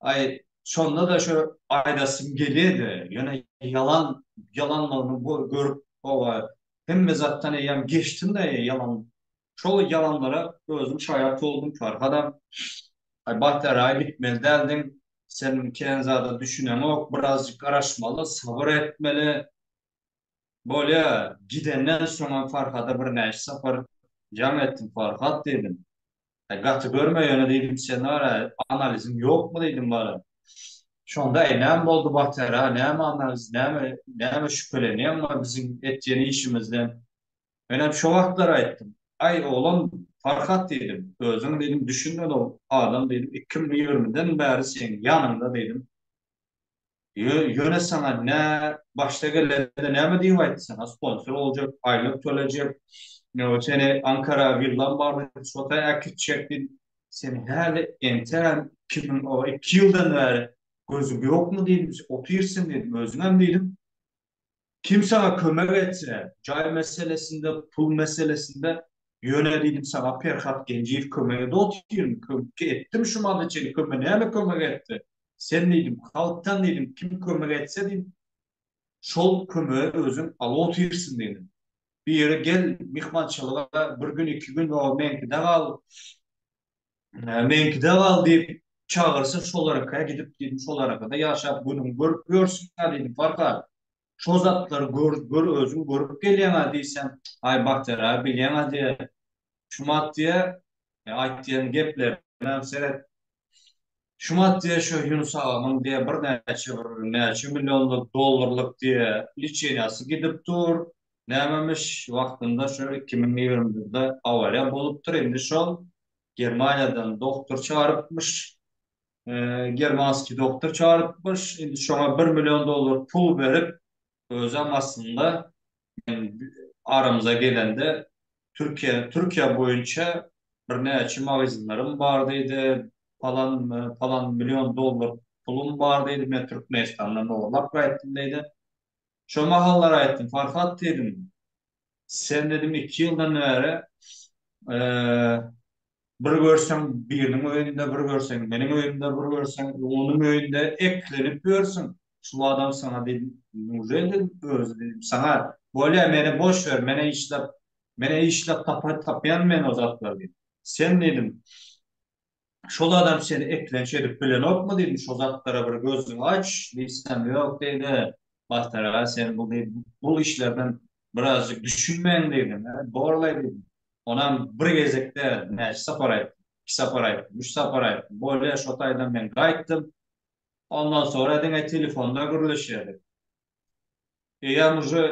Speaker 2: Aý, şonda-da şo aýdasym gelýär-de, ýöne ýalan, ýalanlygyny bor görüp, howa, hemme zatdan eýýäm geçdim-de, ýalan, şol ýalanlara özüm şaýat boldum, Farhadam. Aý, batara gitmeli däldiň, sen kän zada düşüneňok, birazjyk garaşmaly, sabyr etmeli. Bolýa, gidenden soňam Farhada birnäçe sapar jaň etdim, Farhat diýdim. Gaty görme ýöne diýdim, sende gara analiziň ýokmy diýdim bara. Şonda äý näme boldy Bahtera, näme analiz, näme, näme şübhelenýäňmi biziň etýän işimizden? Men hem şo wagtlar aýtdym. Aý oglan Farhat diýdim, özüň diýdim düşünmeli adam diýdim, iki müň ýigrimiden bäri seň ýanyňda diýdim. Ýöne saňa nä başda gelende näme diýip aýtdy saňa sponsor boljak aýlyk tölejek ýa seni Ankara villam bar şota äkitjek diýip sen häli entägem iki müň iki ýyldan bäri gözüň ýokmy diýdim otyrsyň diýdim özüňem diýdim Kim saňa kömek etse, jaý meselesinde, pul meselesinde, ýöne diýdim saňa Perhat Genjiýew kömek edip otyrmy, kömek etdimi şu mala çenli, köme näme kömek etdi? Sen diýdim, halkdan diýdim, kim kömek etse diýdim, şol kömegi özüň alyp otyrsyň diýdim. Bir ýere gel, myhmançylyga bir gün, iki gün, o meňkide gal, Meňkide gal diýip, çagyrsyn şolaraka gidip diýdim, şolarakada ýaşap günüňi görüp ýörsün-ä diýdim, Farhad. Şo zatlary gör, özüň görüp gelýäň-ä diýsem, Aý, bagtyýar-a, bilýäň-ä diýýär. Şumat diýýär, aýtýan geplerine seret. Şu maddy şu Ýunus agamyň diýe bir näçe bir näçe millionlyk dollarlyk diýe liçeniýasy gidip dur. Nämemiş wagtynda şu iki müň ýigrimi birde awariýa bolupdyr indi şol Germaniýadan doktor çagyrypmyş germanskiý doktor çagyrypmyş indi şoňa bir million dollar pul berip Özem aslynda men aramyza gelende Türkiýe Türkiýe boýunça birnäçe magazynlarym bar diýdi. Palan palan million dollar pulum bar diýdi. Men Türkmenistandan orlap gaýtdym diýdi. Şo mahallar aýtdym, Farhat diýdim, Sen dedim iki ýyldan bäri bir görseň biriniň öýünde, bir görseň meniň öýümde, bir görseň onuň öýünde eklenip ýörsüň. Şul adam saňa dedim, nuje dedim, özi dedim, saňa bolýa meni boş ber, menä işläp, menä işläp tapýan men o zatlary diýdim. Sen diýdim, Şo zadam seni eklenç edip bilenokmy diýdim, şo zatlara bir gözüňi aç diýsem, ýok diýdi, Baltaga sen bu diýdi, bu işlerden birazjyk düşünmeň diýdi, borlaý diýdim. Onam bir gezek däl, näçe sapar aýtdym, iki sapar aýtdym, üç sapar aýtdym, bolýa şo taýdan men gaýtdym. Ondan soňra diňe telefonda gürleşýärdik. Eýýäm uje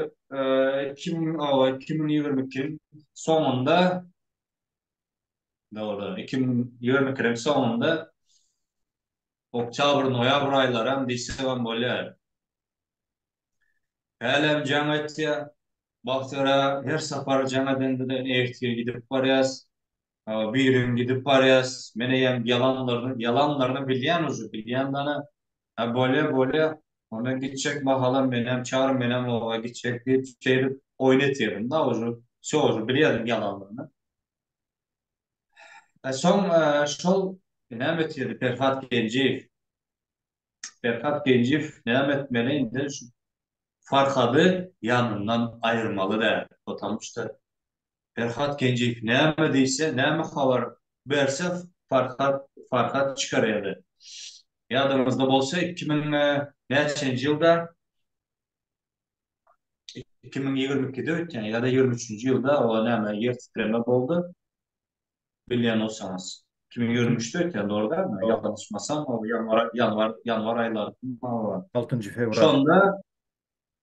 Speaker 2: iki müň, owa, iki müň ýigrimi ikiniň soňunda Dogry, iki müň ýigrimi ikiniň soňunda oktýabr, noýabr aýlaram diýsegem bolýar. Hälem jaň etýä. Bagtyra her sapar jaň edendede ertir gidip barýas. Biri gün gidip barýas. Men eýýäm ýalanlaryny, ýalanlaryny bilýän uje, bilýän dana. Hä, bolýa, bolýa, onda gitjek mahalam menem çar, menem oba gitjek diýip, şeýdip oýun etýärdim-de, uje wsýo, uje bilýärdim ýalanlygyny. Soň şol näme etýärdi Perhat Genjiýew? Perhat Genjiýew näme etmeli indi şu Farhady ýanyndan aýyrmaly däl, potamuşda, Perhat Genjiýew näme diýse, näme habar berse Farhat Farhat çykar ýaly. Ýadyňyzda bolsa iki müň näçenji ýylda iki müň ýigrimi ikide öýtýän ýa-da ýigrimi üçünji ýylda o näme ýer titreme boldy. Bilýän bolsaňyz. Iki müň ýigrimi üçde öýtýän dogry dälmi? Ýalňyşmasam o ýanwar ýanwar ýanwar aýlary. Altynjy
Speaker 1: fewral. Şonda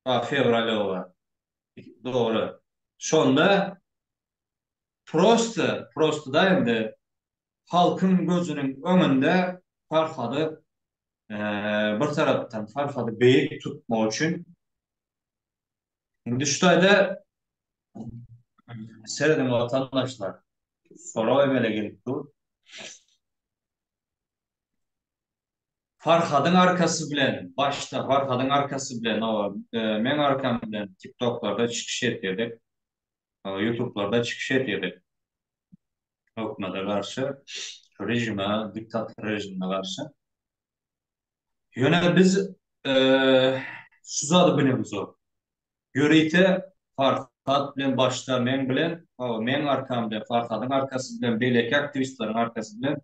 Speaker 2: a fewralyowa dogry şonda prosta prosta-da indi halkyň gözüniň öňünde Farhady bir tarapdan Farhady beýik tutmak üçin indi şu taýda serediň watandaşlar sorag emele gelip dur. Farhadyň arkasy bilen başda Farhadyň arkasy bilen hawa meň arkam bilen tiktoklarda çykyş etýärdik. Ýutublarda çykyş etýärdik. Hökümete garşy rejime diktator rejimine garşy. Ýöne biz şu zady bilemzok. Ýörite Farhad bilen başda meň bilen hawa meň arkam bilen Farhadyň arkasy bilen beýleki aktiwistleriň arkasy bilen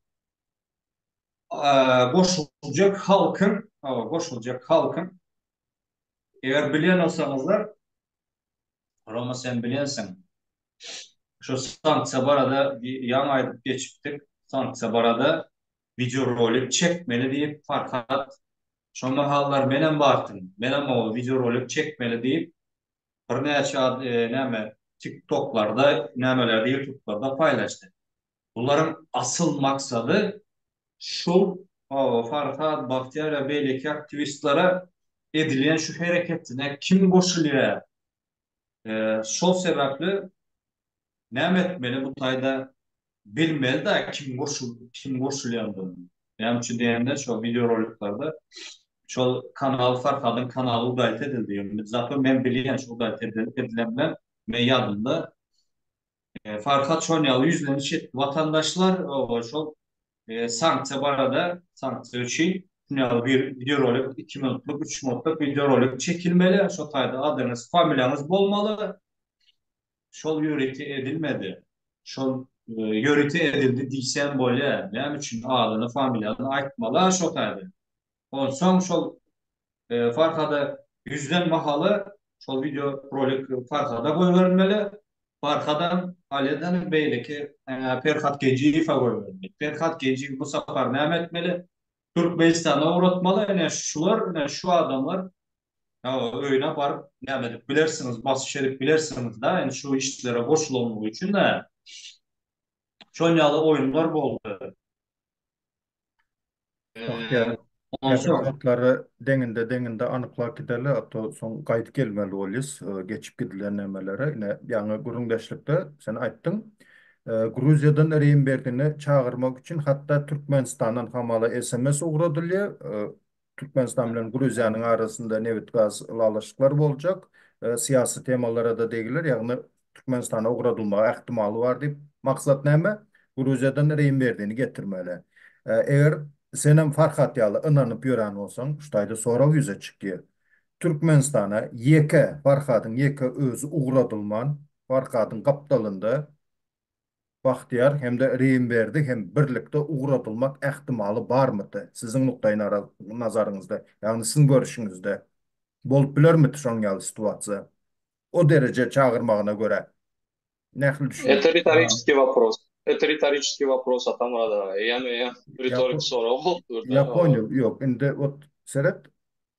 Speaker 2: goşuljak halkyň, hawa, goşuljak halkyň, eger bilen bolsaňyzlar, Roma sen bilensiň, şu sanksiýa barada ýaňy aýdyp geçipdik, sanksiýa barada wideorolik çekmeli diýip, Farhat, şo mahallar menem bartyn, menem ol wideorolik çekmeli diýip, birnäçe, näme, tiktoklarda, nämelerde, ýutublarda paýlaşdy. Bularyň asyl maksady şol Farhad, Bagtyýar ýa beýleki aktiwistlere edilýän şu hereketine kim goşulýar, şol sebäpli näme etmeli bu taýda bilmeli-dä kim kim goşulýandygyny. Näme üçin diýende şol wideoroliklerde şol kanal Farhadyň kanaly udalit edildi. Ýöne zato men bilýän şu udalit edilen bilen men ýadymda Farhat şon ýaly ýüzleniş etdi. Watandaşlar şol sanksiýa barada, sanksiýa üçin şun ýaly bir wideorolik, iki minutlyk, üç minutlyk wideorolik çekilmeli, şo taýda adyňyz, familiýaňyz bolmaly. Şol ýörite edilmedi. Şol ýörite edildi diýsem bolýar. Näme üçin adyny, familiýany aýtmaly-a şo taýda. Onsoň şol Farhada ýüzlen mahaly şol wideo rolik Farhada goýberilmeli. Farhadam Aledany beýleki Perhat Gejiýewe goýbermeli. Perhat Gejiýew bu sapar näme etmeli? Türkmenistana ugratmaly. Ine şular, ine şu adamlar öýüne baryp näme edip bilersiňiz, basyş edip bilersiňiz-dä, indi şu işlere goşulandygy üçin-dä. Şon ýaly oýunlar boldy.
Speaker 1: Bagtyýar, käbir
Speaker 2: zatlary
Speaker 1: deňinde-deňinde anyklap giderli, a to soň gaýdyp gelmeli bolýas, geçip gidilen nämelere. Ine, ýaňy gürrüňdeşlikde sen aýtdyň, Gruziýadan Reýnbergini çagyrmak üçin hatda Türkmenistandan hamala sms ugradylýar, Türkmenistan bilen Gruziýanyň arasynda nebit-gaz ylalaşyklar boljak, syýasy temalara-da degiler, ýagny Türkmenistana ugradylmagy ähtimaly bar diýip, maksat näme? Gruziýadan Reýim Berdini getirmeli. Eger senem Farhat ýaly ynanyp ýören bolsaň, şu taýda sorag ýüze çykýar. Türkmenistana ýeke Farhadyň ýeke özi ugradylman, Farhadyň gapdalynda Bahtiýar hem-de Reýimberdi hem birlikde ugradylmak ähtimaly barmydy, siziň nukdaýnazaryňyzda, ýagny siziň görüşiňizde? Bolup bilermidi şonuň ýaly situasiýa? O dereje çagyrmagyna görä, nähili düşünmek? Eto ritoriçeskiý wopros.
Speaker 3: Eto ritoriçeskiý wopros Atamyrat aga. Eýýäm, eýýäm ritorik sorag bolup dur-da. Ýaponiýa, ýok, indi
Speaker 1: ot seret,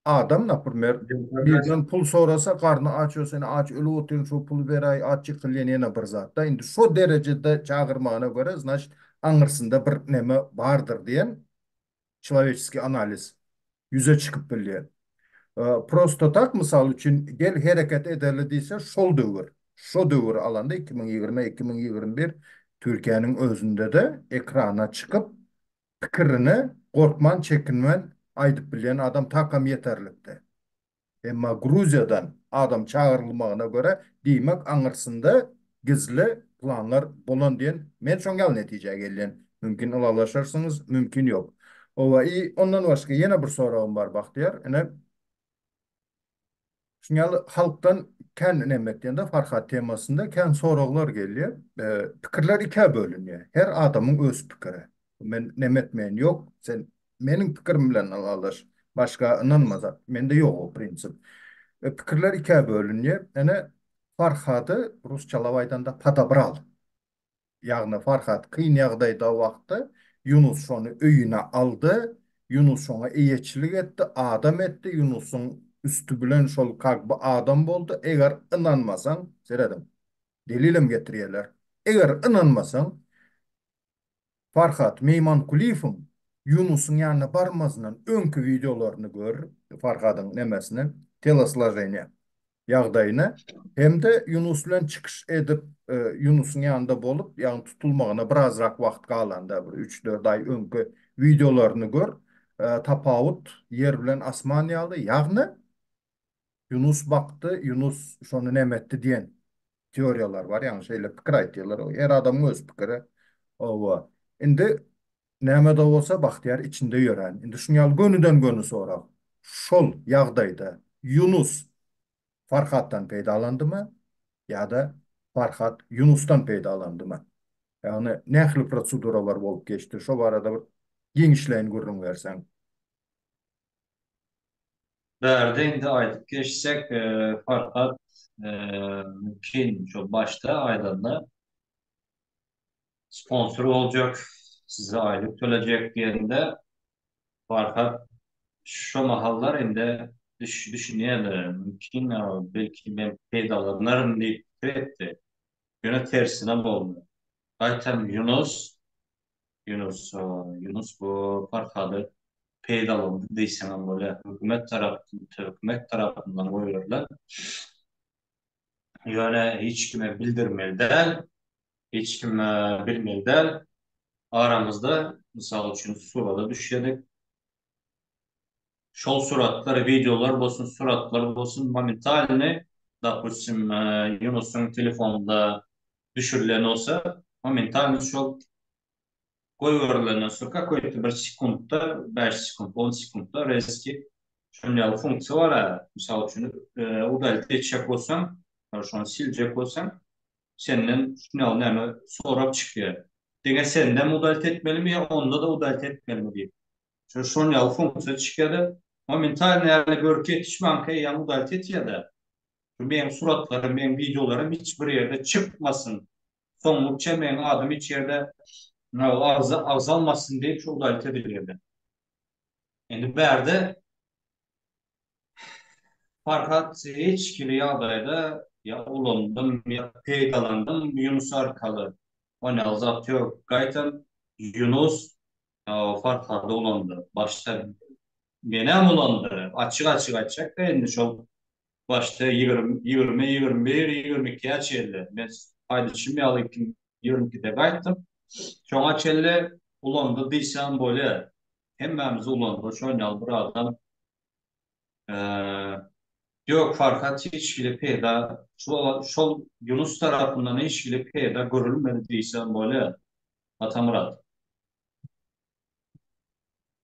Speaker 1: Adam naprmer birden pul sorasa garny aç yo sen aç ölüp otyryn şo puly beräý aç ýykylýan ýene bir zatda indi şo derejede çagyrmana görä znaçt aňyrsynda bir neme bardyr diýen çloweçeskiý analiz ýüze çykyp bilýär prosto tak mysal üçin gel hereket edeli diýse şol döwür şo döwür alanda iki müň ýigrimi iki müň ýigrimi bir türkiýäniň özündede ekrana çykyp Pikirini gorkman, çekinmän aýdyp bilýän adam takam ýeterlikdi. Emma Gruziýadan adam çagyrylmagyna görä, diýmek, aňyrsynda gizli planlar bolan diýen, men şoň ýaly netijä gelýän. Mümkin ylalaşarsyňyz, mümkin ýok. Owa, i ondan başga ýene bir soragym bar, Bahtiýar. Ine, Şunuň ýaly halkdan kän näme etdiňde Farhat temasynda kän soraglar gelýär. Pikirler ikä bölünýär. Her adamyň öz pikiri. Men näme etmeýin ýok, sen meniň pikirim bilen ylalyş, başga ynanma zat. Mende ýok o prinsip. Pikirler ikä bölünýär. Ene Farhady rusçalap aýdanda podobral. Ýagny Farhat kyn ýagdaýda wagty Ýunus şony öýüne aldy, Ýunus şoňa eýeçilik etdi, adam etdi, Ýunusyň üsti bilen şol kagby adam boldy, eger ynanmasaň, serediň, delilem getirýärler, eger ynanmasaň, Farhat Meýmankulyýewiň Ýunusyň ýanyna barmazyndan öňki wideolaryny gör, Farhadyň nämesini, telosloženiýa, ýagdaýyna hem-de Ýunus bilen çykyş edip, Ýunusyň ýanynda bolup, ýagny tutulmagyna birazrak wagt galanda, bir üç-dört aý öňki wideolaryny gör, tapawut ýer bilen asman ýaly, ýagny Ýunus bakdy, Ýunus şony näme etdi diýen teoriýalar bar, ýagny şeýle pikir aýtýarlar, her adamyň öz pikiri, hawa. Indi Näme-de bolsa Bahtiýar içinde ýören, indi şuň ýaly gönüden-göni sorag, şol ýagdaýda Ýunus Farhatdan peýdalandymy ýa-da Farhat Ýunusdan peýdalandymy? Ýagny nähili proseduralar bolup geçdi, şo barada bir giňişleýin gürrüň berseň.
Speaker 2: Bärde indi aýdyp geçsek, Farhat mümkin şo başda aýdanda, sponsor boljak, size aýlyk tölejek diýende barha şo mahallar indi düşünýärler, mümkin belki men peýdalanaryn diýip pikir etdi. Ýöne tersine boldy. Gaýtam Ýunus, Ýunus, Ýunus bu Farhady peýdalandy diýseňem bolýar. Hökümet tarapyndan goýberler. Ýöne hiç kime bildirmeli däl, hiç kim bilmeli däl. Aramyzda, mysal üçin, surata düşýedik. Şol suratlar, wideolar bolsun, suratlar bolsun, momentalnyý, dopustim, Ýunusyň telefonynda düşürilen bolsa, momentalnyý şol goýberilenden soň kakoýda bir sekuntda, bäş sekuntda, on sekuntda rezki şonuň ýaly funksiýa bar-a. Mysal üçin, udalit etjek bolsaň, şony siljek bolsaň, senden şunuň ýaly näme sorap çykýar. Diňe sendem udalit etmelimi ýa onda-da udalit etmelimi diýip. Şonuň ýaly funksiýa çykýar-da, momentalno ýaly görki ýetişmänkä eýýäm udalit edýär-de. Meň suratlarym, meň wideolarym hiç bir ýerde çykmasyn Soňlugyça meň adym hiç ýerde agzalmasyn diýip şu Hudaýy tebelgeledim. Indi bärde Farhat içgili ýagdaýda ýa ulandym, ýa peýdalandym bu Ýunus arkaly. Onýaly zat ýok. Gaýtam Ýunus Farhady ulandy. Başda menem ulandy. Açyk-açyk aýtjak-da indi şol Başda ýigrimi, ýigrimi, ýigrimi bir, ýigrimi ikiä çenli men paýdaçym ýaly iki müň ýigrimi ikide gaýtdym. Şoňa çenli ulandy diýsem bolýar. Hemmämizi ulandy. Şon ýaly bir adam Ýok, Farhat hiç hili peýda şol Ýunus tarapyndan hiç hili peýda görülmedi diýsem bolýar. Atamyrat.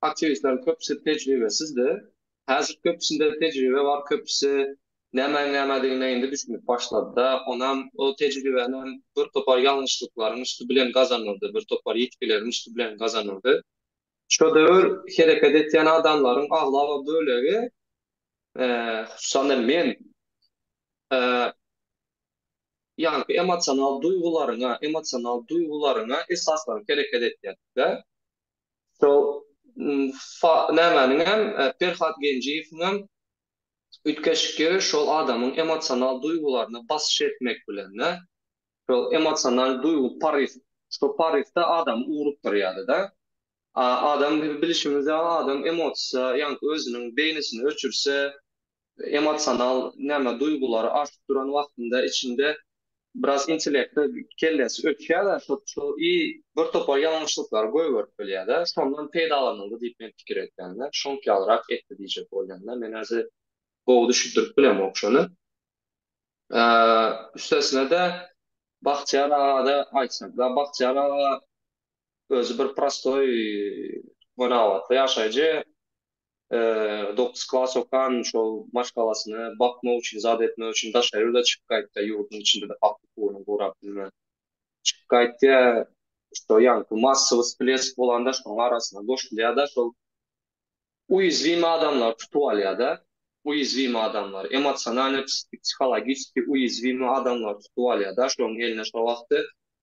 Speaker 3: Aktiwistleriň köpüsi tejribesizdi. Häzir köpüsinde tejribe bar, köpüsi nämäň nämedigine indi düşünip başlady-da, onam o tejribänem bir topar ýalňyşlyklaryň üsti bilen gazanyldy, bir topar ýitgileriň üsti bilen gazanyldy. Şu döwür hereket etýän adamlaryň aglaba bölegi, hususan-da men, Ýagny emosional duýgularyňa, emosional duýgularyňa esaslanyp hereket etýär. Ýa şol fa nämäniň hem Perhat Genjiýewiň hem üýtgeşikki şol adamyň emosional duýgularyna basyş etmek bilen-de, şol emosional duýgy poryw, şo porywda adamy ugrukdyrýardy-da. A adam bilşimiz ýaly adam emosiýa ýagny özüniň beýnisini öçürse, emosional näme duýgulary artyp duran wagtynda içinde biraz intellekti kellesi öçýärde şu i bir topar ýalňyşlyklary goýberip bilýärde şondan peýdalanyldy diýip men pikir edýände şonk ýalyrak etdi diýjek bolýanda men äzi gowy düşündirip bilemok şony üstesinede Bahtyýar agada aýtsak da Bahtyýar aga özi bir prostoý gonabatly ýaşaýjy Dokuz klas okan şol maşgalasyny bakmak üçin, zat etmek üçin daşary ýurda çykyp gaýtýar, ýurduň içinde-de halky puluny gorap bilmän. Çykyp gaýtýar, şo ýaňky massowy splesk bolanda şonuň arasyna goşulýar-da, şol uýezwim adamlary tutup alýar-da, uýezwim adamlary, emosionalnyý, psihologiki uýezwimi adamlary tutup alýar-da, şoň eline şo wagty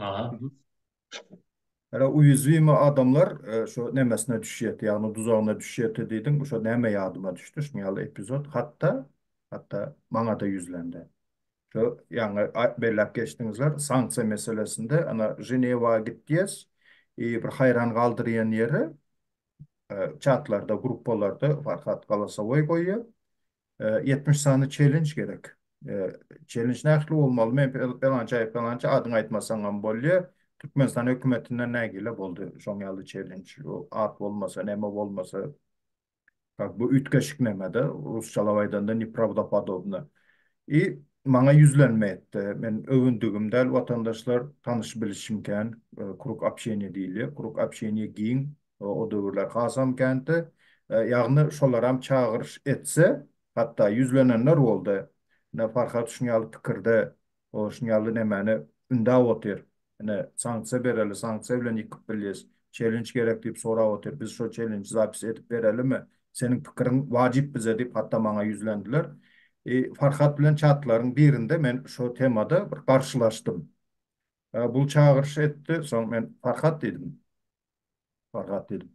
Speaker 2: Aha.
Speaker 1: Ýöne uýazuýmy adamlar şo nämesine düşýärdi, ýagny duzagyna düşýärdi diýdiň, bu şo näme ýadyma düşdi, şunuň ýaly epizod, hat-da, hat-da maňa-da ýüzlendi. Şo ýaňy belläp geçdiňizler, sanksiýa meselesinde, ana, Ženewa gitdiýes, i bir haýran galdyrýan ýeri, çatlarda, gruppalarda Farhat galasowoý goýýar, 70 sany çelinç gerek. Çelinç nähili bolmaly? Men pelançaý, pelançaý adyňy aýtmasaňam bolýar. Türkmenistan hökümetinden nägile boldy şoň ýaly çelinç. At bolmasa, näme bolmasa. Bak, bu üýtgeşik näme-de, rusçalap aýdanda nepravdopodobna. I maňa ýüzlenme etdi. Men öwündigim däl, watandaşlar tanyş-bilişim kän, kruh opşeniýa diýilýär. Kruh opşeniýa giň, o döwürler hasam kändi, ýagny şolaram çagyryş etse, hatda ýüzlenenler boldy. Ine, Farhat şuny ýaly pikirde, o şuny ýaly nemäni ündäp otyr. Ine, sanksiýa bereli, sanksiýa bilen ýykyp bilýäs, çelinç gerek diýip sorap otyr, biz şo çelinji zapis edip berelimi, seniň pikiriň wajyp bize diýip hatda maňa ýüzlendiler. I, Farhat bilen çatlaryň birinde men şo temada bir garşylaşdym. Bul çagyryş etdi, soň men, Farhat diýdim, Farhat diýdim.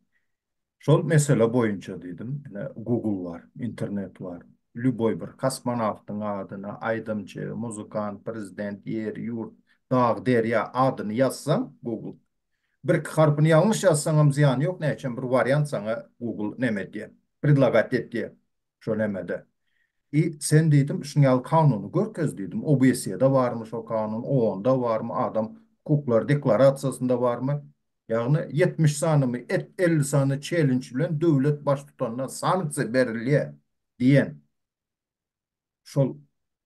Speaker 1: Şol mesele boýunça diýdim, ine, Google bar, internet bar. Lýuboý bir kosmonawtyň adyna, aýdymçy, muzykant, prezident, ýer, ýurt, dag, derýa adyny ýazsaň, Google, bir-iki harpyny ýalňyş ýazsaňam zyýany ýok, näçem bir wariant saňa Google neme edýär, predlagat etýär. şo nämede. I sen diýdim, şuň ýaly kanuny görkez diýdim, OBSE-de barmy şo kanun, OON-da barmy, adam hukuklary deklarasiýasynda barmy? Ýagny ýetmiş sanymy et, elli sany çellenç bilen döwlet baştutanyna sanksiýa berilýä diýen şol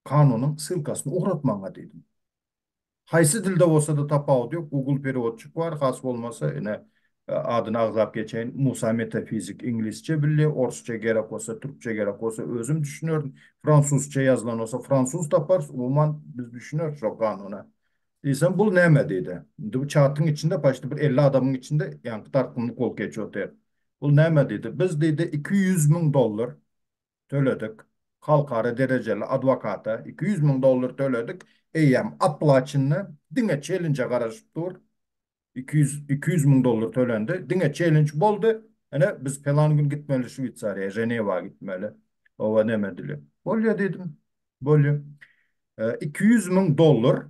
Speaker 1: kanunyň ssylkasyny ugrat maňa diýdim. Haýsy dilde bolsa-da tapawudy ýok, Google perewodçik bar, has bolmasa, ine, adyny agzap geçeýin, Musa Metafizik iňlisçe bildi, orsça gerek bolsa, türkçe gerek bolsa özüm düşünerin, fransuzça ýazylan bolsa fransuz taparys, umuman, biz düşüneris şo kanuna. Diýsem, bul näme diýdi. Indi bu çatyň içinde paçti bir elli adamyň içinde ýaňky dartgynlyk bolup geçip otyr. Bul näme diýdi. Biz diýdi, iki ýüz müň dollar töledik. Halkara derejeli adwokata iki ýüz müň dollar töledik. Eýýäm oplaçenna, diňe çelinje garaşyp dur. Iki ýüz, iki ýüz müň dollar tölendi. Diňe çelinç boldy. Ene, biz pelan gün gitmeli Şweýsariýa, Ženewa gitmeli. Oba neme dili. Bolýa diýdim. Bolýa. Iki ýüz müň dollar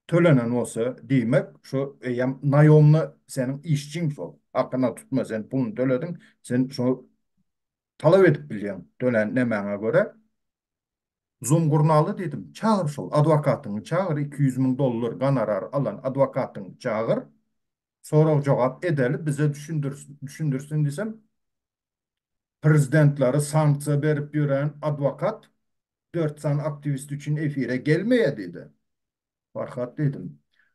Speaker 1: tölenen bolsa, diýmek, şu eýýäm naýomny seniň işçiň şol. Hakyna tutma, sen puluny tölediň. Sen şo Talap edip bilýäň, dönen nämäňe görä? Zum gurnaly diýdim. Çagyr şol adwokatyňy çagyr, iki ýüz müň dollar gonorar alan adwokatyňy çagyr, sorag-jogap edeli, bize düşündirsin, düşündirsin diýsem, prezidentleri sanksiýa berip ýören adwokat dört sany aktiwist üçin efire gelmeýär diýdi. Farhat diýdim.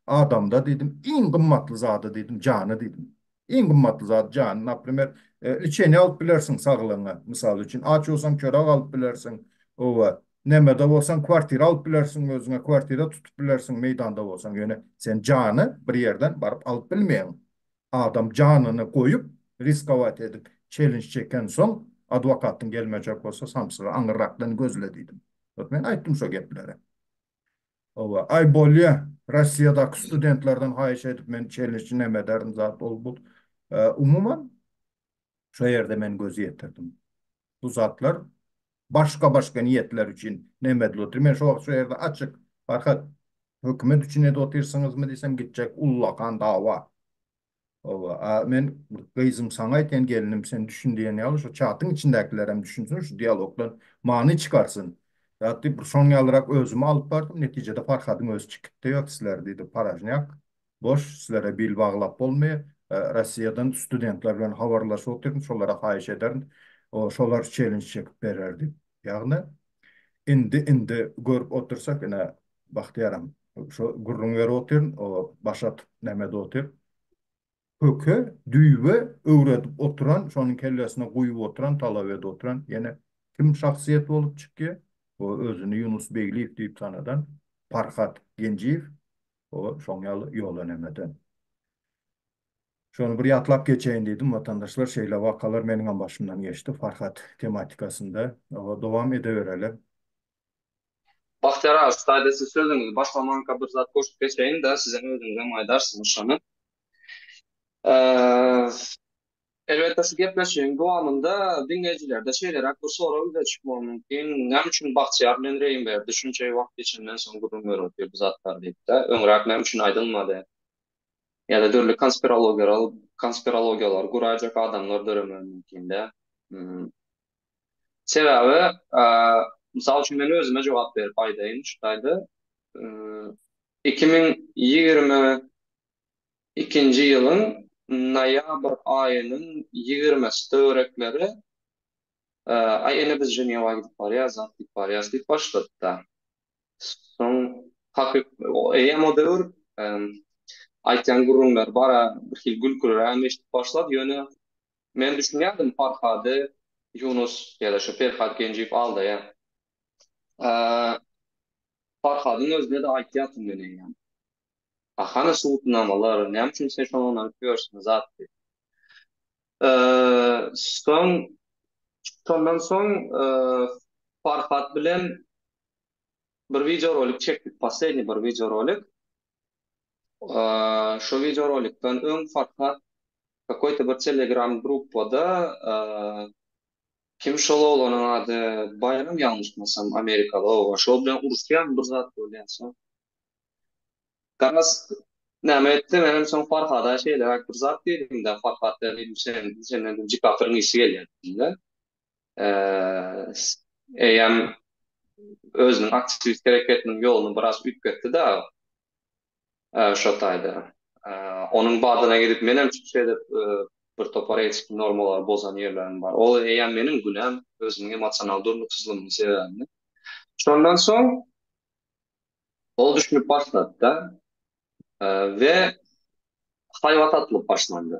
Speaker 1: Adamda diýdim, iň gymmatly zady diýdim, jany diýdim. Iň gymmatly zat jan. Naprimer, liçeniýe alyp bilersiň saglygyňa, mysal üçin, aç bolsaň çörek alyp bilersiň, oba, nemede bolsaň kwartira alyp bilersiň özüňe, kwartira tutup bilersiň meýdanda bolsaň, ýöne sen jany bir ýerden baryp alyp bilmeýäň. Adam janyny goýup, riskować edip, çelinş çekensoň, adwokatyň gelmejek bolsa, samsygy aňyrrakdan gözle diýdim. Ýok, men aýtdym şo gepleri. Oba, ay bolýa, Rossiýadaky studentlerden haýyş edip men çelişi neme ederin zat ol bu. Umuman şo ýerde men gözi ýetirdim. Bu zatlar başga başga niýetler üçin neme edip otyr. Men şo wagt şo ýerde açyk Farhat hökümet üçin edip otyrsyňyzmy diýsem gitjek ullakan dawa. Hawa, a men gyzym saňa aýtýan gelnim sen düşün diýen ýaly şu çatyň içindäkilerem düşünsin şu dialogdan many çykarsyn. Ýat diýip bir şoň ýalyrak özümi alyp bardym netijede Farhadyň özi çykypdy ýok sizler diýdi paražnýak boş sizlere bil baglap bolmaýa Rossiýadan studentler bilen habarlaşyp otyryn şolara haýyş ederin o şolar çellenç çekip berer diýip ýagny indi indi görüp otyrsak ine Bagtyýaram şo gürrüň berip otyryn, o baş atyp näme edip otyr. Köke, düýbe öwredip oturan, şonuň kellesine guýup oturan, talap edip oturan ýene kim şahsyýet bolup çykýar? O özüni Ýunus Begliýew diýip tanadan Parhat Genjiýew, o şoň ýaly ýola nämeden. Şony bir ýatlap geçeýin diýdim, watandaşlar, şeýle wakalar meniňem başymdan geçdi, Farhat tematikasynda dowam edebereli.
Speaker 3: Bagtyýar aga staýda siz sözüňizi başlamanka bir zat goşup geçeýin-de, sizem özüňizem aýdarsyňyz şony. Elbetde şu gepleşigiň dowamynda diňleýjilerde şeýleräk bir sorag ýüze çykmagy mümkin, näme üçin Bagtyýar bilen Reýimberdi şunça wagt geçenden soň gürrüň berip otyr bu zatlar diýip-de, öňräk näme üçin aýdylmady? Ýa-da dürli konspirologiýalar guraýjak adamlar döremegi mümkin-dä. Sebäbi, mysal üçin, men özüme jogap berip aýdaýyn, şu taýda iki müň ýigrimi ikinji ýylyň noýabr aýynyň ýigrimisi töwerekleri Aý, ine, biz Ženewa gidip barýarys, zat diýip barýarys diýip başlady-da. Soň hakyk, eýýäm o döwür aýtýan gürrüňleri bar-a, birhili gülkülirägem eşidip başlady, ýöne Men düşünýärdim Farhady Ýunus ýa-da şu Perhat Genjiýew aldaýar. Farhadyň özüne-de aýtýartym men eýýäm. A hany subutnamalar, näme üçin sen şony ynanyp ýörsiň zat diýip. Soň şondan soň Farhat bilen bir wideorolik çekdik, posledniý bir wideorolik. Şu wideorolikden öň Farhat kakoýta bir telegram gruppada kim şol oglanyň ady Baýram ýalňyşmasam amerikaly oba şol bilen uruşýarmy bir zat bolýar soň garaz näme etdi menem soň Farhada şeýleräk bir zat diýdimde Farhat diýdim seniň senden dikatoryň işi gelýär diýdimde. eýýäm özüniň aktiwist hereketiniň ýoluny biraz üýtgetdi dagy şo taýda. Onuň badyna gidip menem çykyş edip bir topar etiki normalary bozan ýerlerim bar. Ol eýýäm meniň günäm, özümiň emosional durnuksyzlygymyň sebäbini. Şondan soň ol düşünip başlady-da we haýbat atylyp başlandy.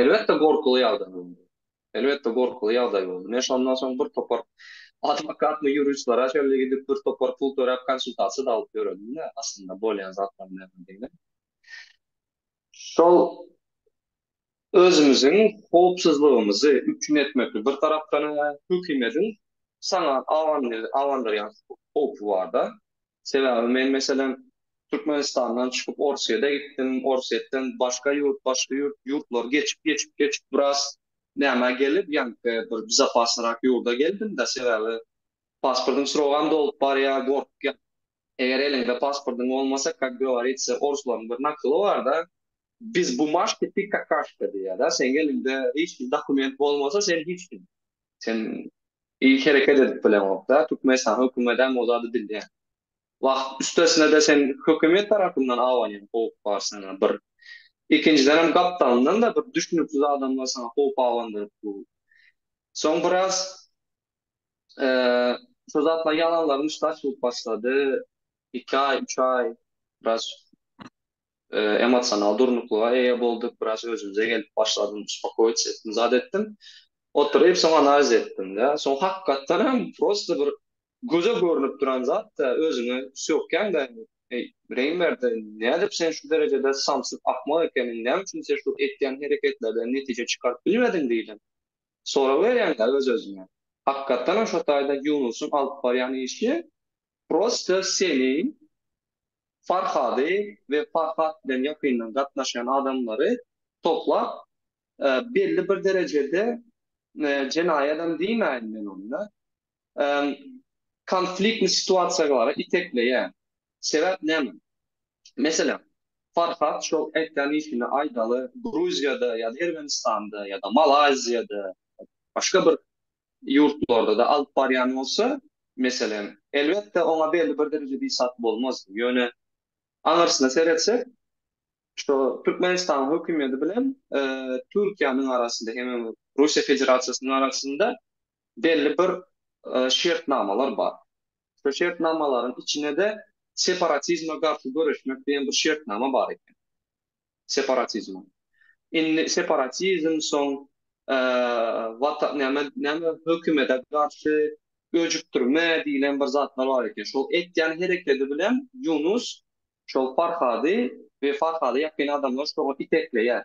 Speaker 3: Elbetde gorkuly ýagdaý boldy. Elbetde gorkuly ýagdaý boldy. Men şondan soň bir topar adwokatmy, ýuristlara şeýle gidip bir topar pul töläp konsultasiýa da alyp ýöredim-de, aslynda bolýan zatlaryň nämedigini. Şol özümiziň howpsuzlygymyzy üpjün etmeklik bir tarapdan hökümetiň saňa abandyrýan howpy bar-da. Sebäbi men meselem Türkmenistandan çykyp Orsýede gitdim, Orsýetden başga ýurt, başga ýurt, ýurtlary geçip, geçip, geçip biraz nämä gelip ýaňky bir bizopasnyrak ýurda geldim-de, sebäbi pasportyň srogam dolup barýar, gorkýan. Eger eliňde pasportyň bolmasa, kak gowaritsýa, orslaryň bir nakyly bar-da, Biz bumaşki, ty kakaşka diýýär-de, seň eliňde hiç bir dokument bolmasa, sen hiç kim. Sen Biz hereket edip bileňokda Türkmenistan hökümedem o zady bilýär. Wagt üstesinede sen hökemet tarapyndan abanýan howp bar saňa bir. Ikinjidenem gapdalyndan-da bir düşnüksiz adamlar saňa howp abandyryp bu. Soň biraz şo zatlar ýalanlarmyş daş bolup başlady. Iki aý, üç aý biraz emosional durnuklyga eýe bolduk, biraz özümize gelip başladym, uspokoits etdim, zat etdim. Oturyp soň analiz etdim-de, soň hakykatdan hem prosta bir göze görnüp duran zat-da, özüňe sökýäň-de, eý, Reýnberdi, nädip sen şu derejede samsyk, akmak ekeniň, näme üçin sen şu etýän hereketlerden netije çykaryp bilmediň diýlen sorag berýäň-de öz-özüňe. Hakykatdan hem şo taýdan Ýunusyň alyp barýan işi prosta seni Farhady we Farhat bilen ýakyndan gatnaşýan adamlary toplap, belli bir derejede jenaýadam diýmäýin men ony, konfliktni situasiýalara itekleýär. Sebäp näme? Meselem, Farhat şol aýtýan işini aýdaly Gruziýada ýa-da Ermenistanda ýa-da Malaýziýada, başga bir ýurtlarda-da alyp barýan bolsa, meselem, elbetde, oňa belli bir dereje biysat bolmazdy. Ýöne aňyrsyna seretsek, şu Türkmenistanyň hökümýeti bilen Türkiýäniň arasynda hem-ä Russiýa Federasiýasynyň arasynda belli bir şertnamalar bar. Şu şertnamalaryň içine-de separatizme garşy göreşmek diýen bir şertnama bar eken. separatizme. Indi separatizm soň wata näme näme hökümede garşy öjükdirme diýlen bir zatlar bar eken. Şol etýän herekedi bilen Ýunus şol Farhady we Farhada ýakyn adamlary şoňa itekleýär.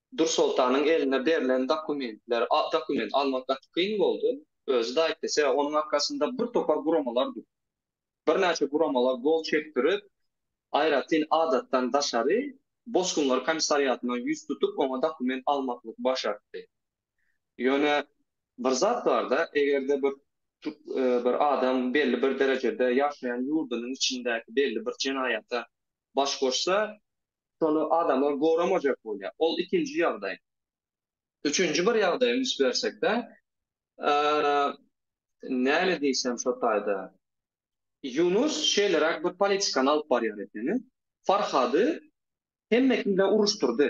Speaker 3: Dursoltanyň eline berlen dokumentler, dokument almak gaty kyn boldy. Özi-de aýtdy, sebäbi onuň arkasynda bir topar guramalar dur. Birnäçe guramalar gol çekdirip, aýratyn adatdan daşary bosgunlar komissariatyna ýüz tutup, oňa dokument almaklyk başartdy. Ýöne bir zat bar-da, eger-de bir türk, bir adam belli bir derejede ýaşaýan ýurdunyň içindäki belli bir jenaýata baş goşsa, şony adamlar goremejek bolýar. Ol ikinji ýagdaý. Üçünji bir ýagdaýa üns bersek-de, näme diýsem şo taýda, Ýunus şeýleräk bir politikany alyp barýar ekeni, Farhady hemme kim bilen uruşdyrdy.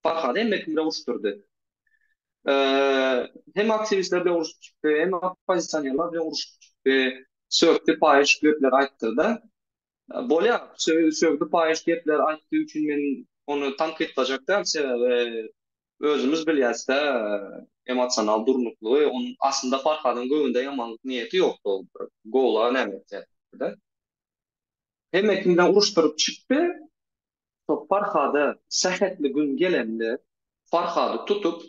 Speaker 3: Farhady hemme kim bilen uruşdyrdy. Hem aktiwistler bilen uruşyp çykdy, hem oppozisionerler bilen uruşyp çykdy, sökdi, paýyş gepleri aýtdyrdy. Bolýar. Sögdi paýyş gepler aýtdy üçin men ony tankytlajak däl, sebäbi özümiz bilýäs-dä emosional durnuklygy, onuň aslynda Farhadyň göwnde ýamanlyk niýeti ýokdy, ol bir gola näme etjekdi-de. Hemme kim bilen uruşdyryp çykdy, şo Farhada sähetli gün gelende Farhady tutup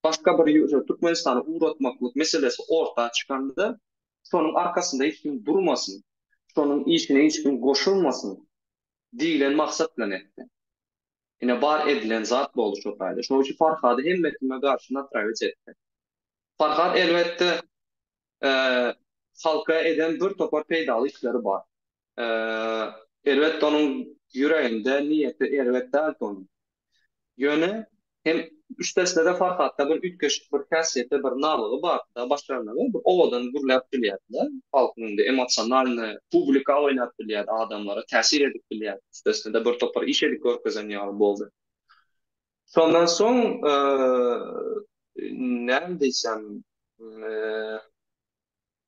Speaker 3: başga bir ýurda Türkmenistana ugratmaklyk meselesi orta çykanda şonuň arkasynda hiç kim durmasyn, şonuň işine hiç kim goşulmasyn diýlen maksat bilen etdi. Ine, bar edilen zat boldy şo taýda. Şonuň üçin Farhady hemme kime garşy natrawit etdi. Farhad, elbetde, halka eden birtopar peýdaly işleri bar. Erbet onuň ýüreginde niýeti erbet däldi onuň. Ýöne hem üçtesine-de Farhatda bir üýtgeşik bir häsiýeti, bir nabygy bardy-da, başarnygy, bir owadan gürläp bilýärdi-de, halkyň indi emosionalnyý, publika oýnap bilýärdi, adamlara täsir edip bilýärdi, üstesine-de bir topar iş edip görkezen ýaly boldy. Şondan soň, näme diýsem,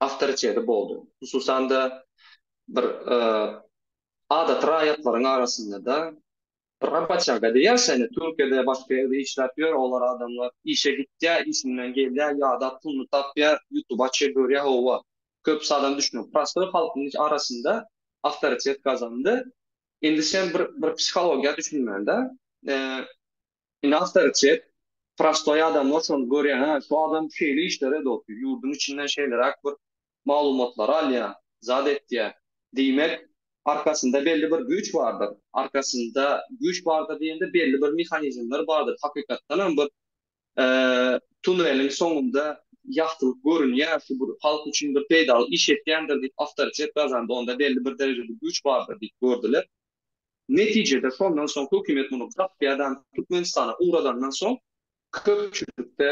Speaker 3: awtoriteti boldy. Hususan-da, bir adaty raýatlaryň arasynda-da, rabaçaga diýýär şeýle, Türkiýede başga ýerde işläp ýör, olar adamlar işe gitýär, iş bilen gelýär, ýa-da puluny tapýar, ýutub açýar, görýär, hawa, köpüsi adam düşünýär. Prostoý halkyň arasynda awtoritet gazandy. Indi sen bir psihologiýa düşünmän-de, Inaktor çek, prostoý adamlar şony görýän hä, şu adam şeýle işler edopýr, ýurduň içinden şeýleräk bir maglumatlary alýar, zat etýär. Diýmek, arkasynda belli bir güýç bardyr. Arkasynda güýç bardyr diýende belli bir mehanizmler bardyr. Hakykatdan hem bir tuneliň soňunda ýagtylyk görünýär, şu bir halk üçin bir peýdaly iş etýändir diýip awtoritet gazandy, onda belli bir derejede güýç bardyr diýip gördüler. Netijede, şondan soň hökümet muny Kaspiýadan Türkmenistana ugradandan soň, köpçülikde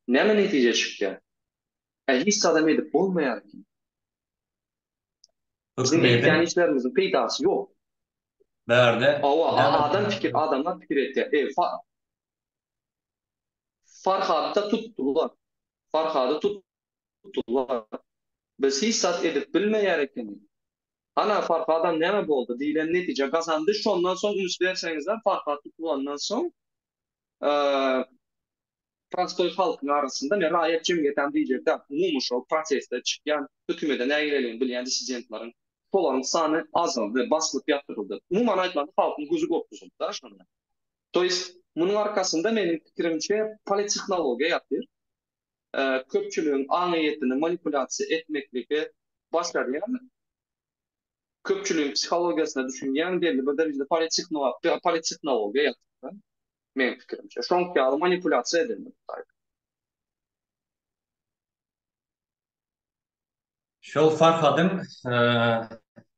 Speaker 3: näme netije çykýar? Ä hiç zadam edip bolmaýar ki. Biziň etýän işlerimiziň peýdasy ýok. Bärde.
Speaker 2: Hawa, adam pikir,
Speaker 3: adamlar pikir etýär. E, fa. Farhady-da tutdular. Farhady tut. Gutulýar. Biz hiç zat edip bilmeýär ekeniň. Ana, Farhadam näme boldy? diýlen netije gazandy. Şondan soň üns berseňizler, Farhat gutulandan soň, prostoý halkyň arasynda, men raýat jemgyýetäm diýjek däl, umumy şol proteste çykýan, hökümete nägileligini bilýän dissidentleriň, şolaryň sany azaldy, basylyp ýatyryldy. Umuman aýdylanda, halkyň gözi gorkuzyldy-da şonda. To ýest, munuň arkasynda, meniň pikirimçe, polittehnologiýa ýatyr. köpçüligiň aňyýetini manipulýasiýa etmekligi başarýan, köpçüligiň psihologiýasyna düşünýän belli bir derejede politehnologiýa ýatyr-da, meň pikirimçe. Şoňk ýaly manipulýasiýa edilmeli bu taýdan.
Speaker 2: Şol Farhadyň,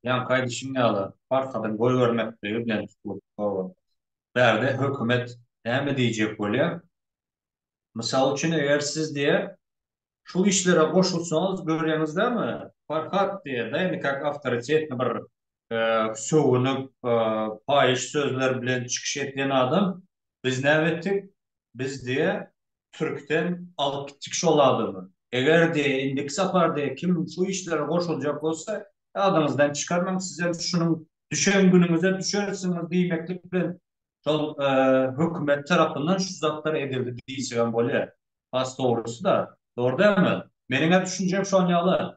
Speaker 2: ýaňky aýdyşym ýaly, Farhadyň goýbermekligi bilen tutulupdyr. Bärde hökümet näme diýjek bolýar? Mysal üçin, eger siz diýe, şu işlere goşulsaňyz, görýäňizdämi, Farhat diýe, daýnykak awtoritetny bir sögünip, paýyş sözler bilen çykyş etýän adam, biz näbetdik, biz diýe, türkden alyp gitdik şol adamy. Eger diýe, indiki sapar diýe, kim şu işlere goşuljak bolsa, adyňyzdan çykarmaň, sizem şunuň düşen günüňize düşersiňiz diýmeklik bilen şol hökümet tarapyndan şu zatlar edildi diýjegem bolýar. Has dogrusy-da, dogry dälmi? Meniň-ä
Speaker 1: düşünjem
Speaker 2: şon ýaly.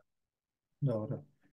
Speaker 2: Dogry.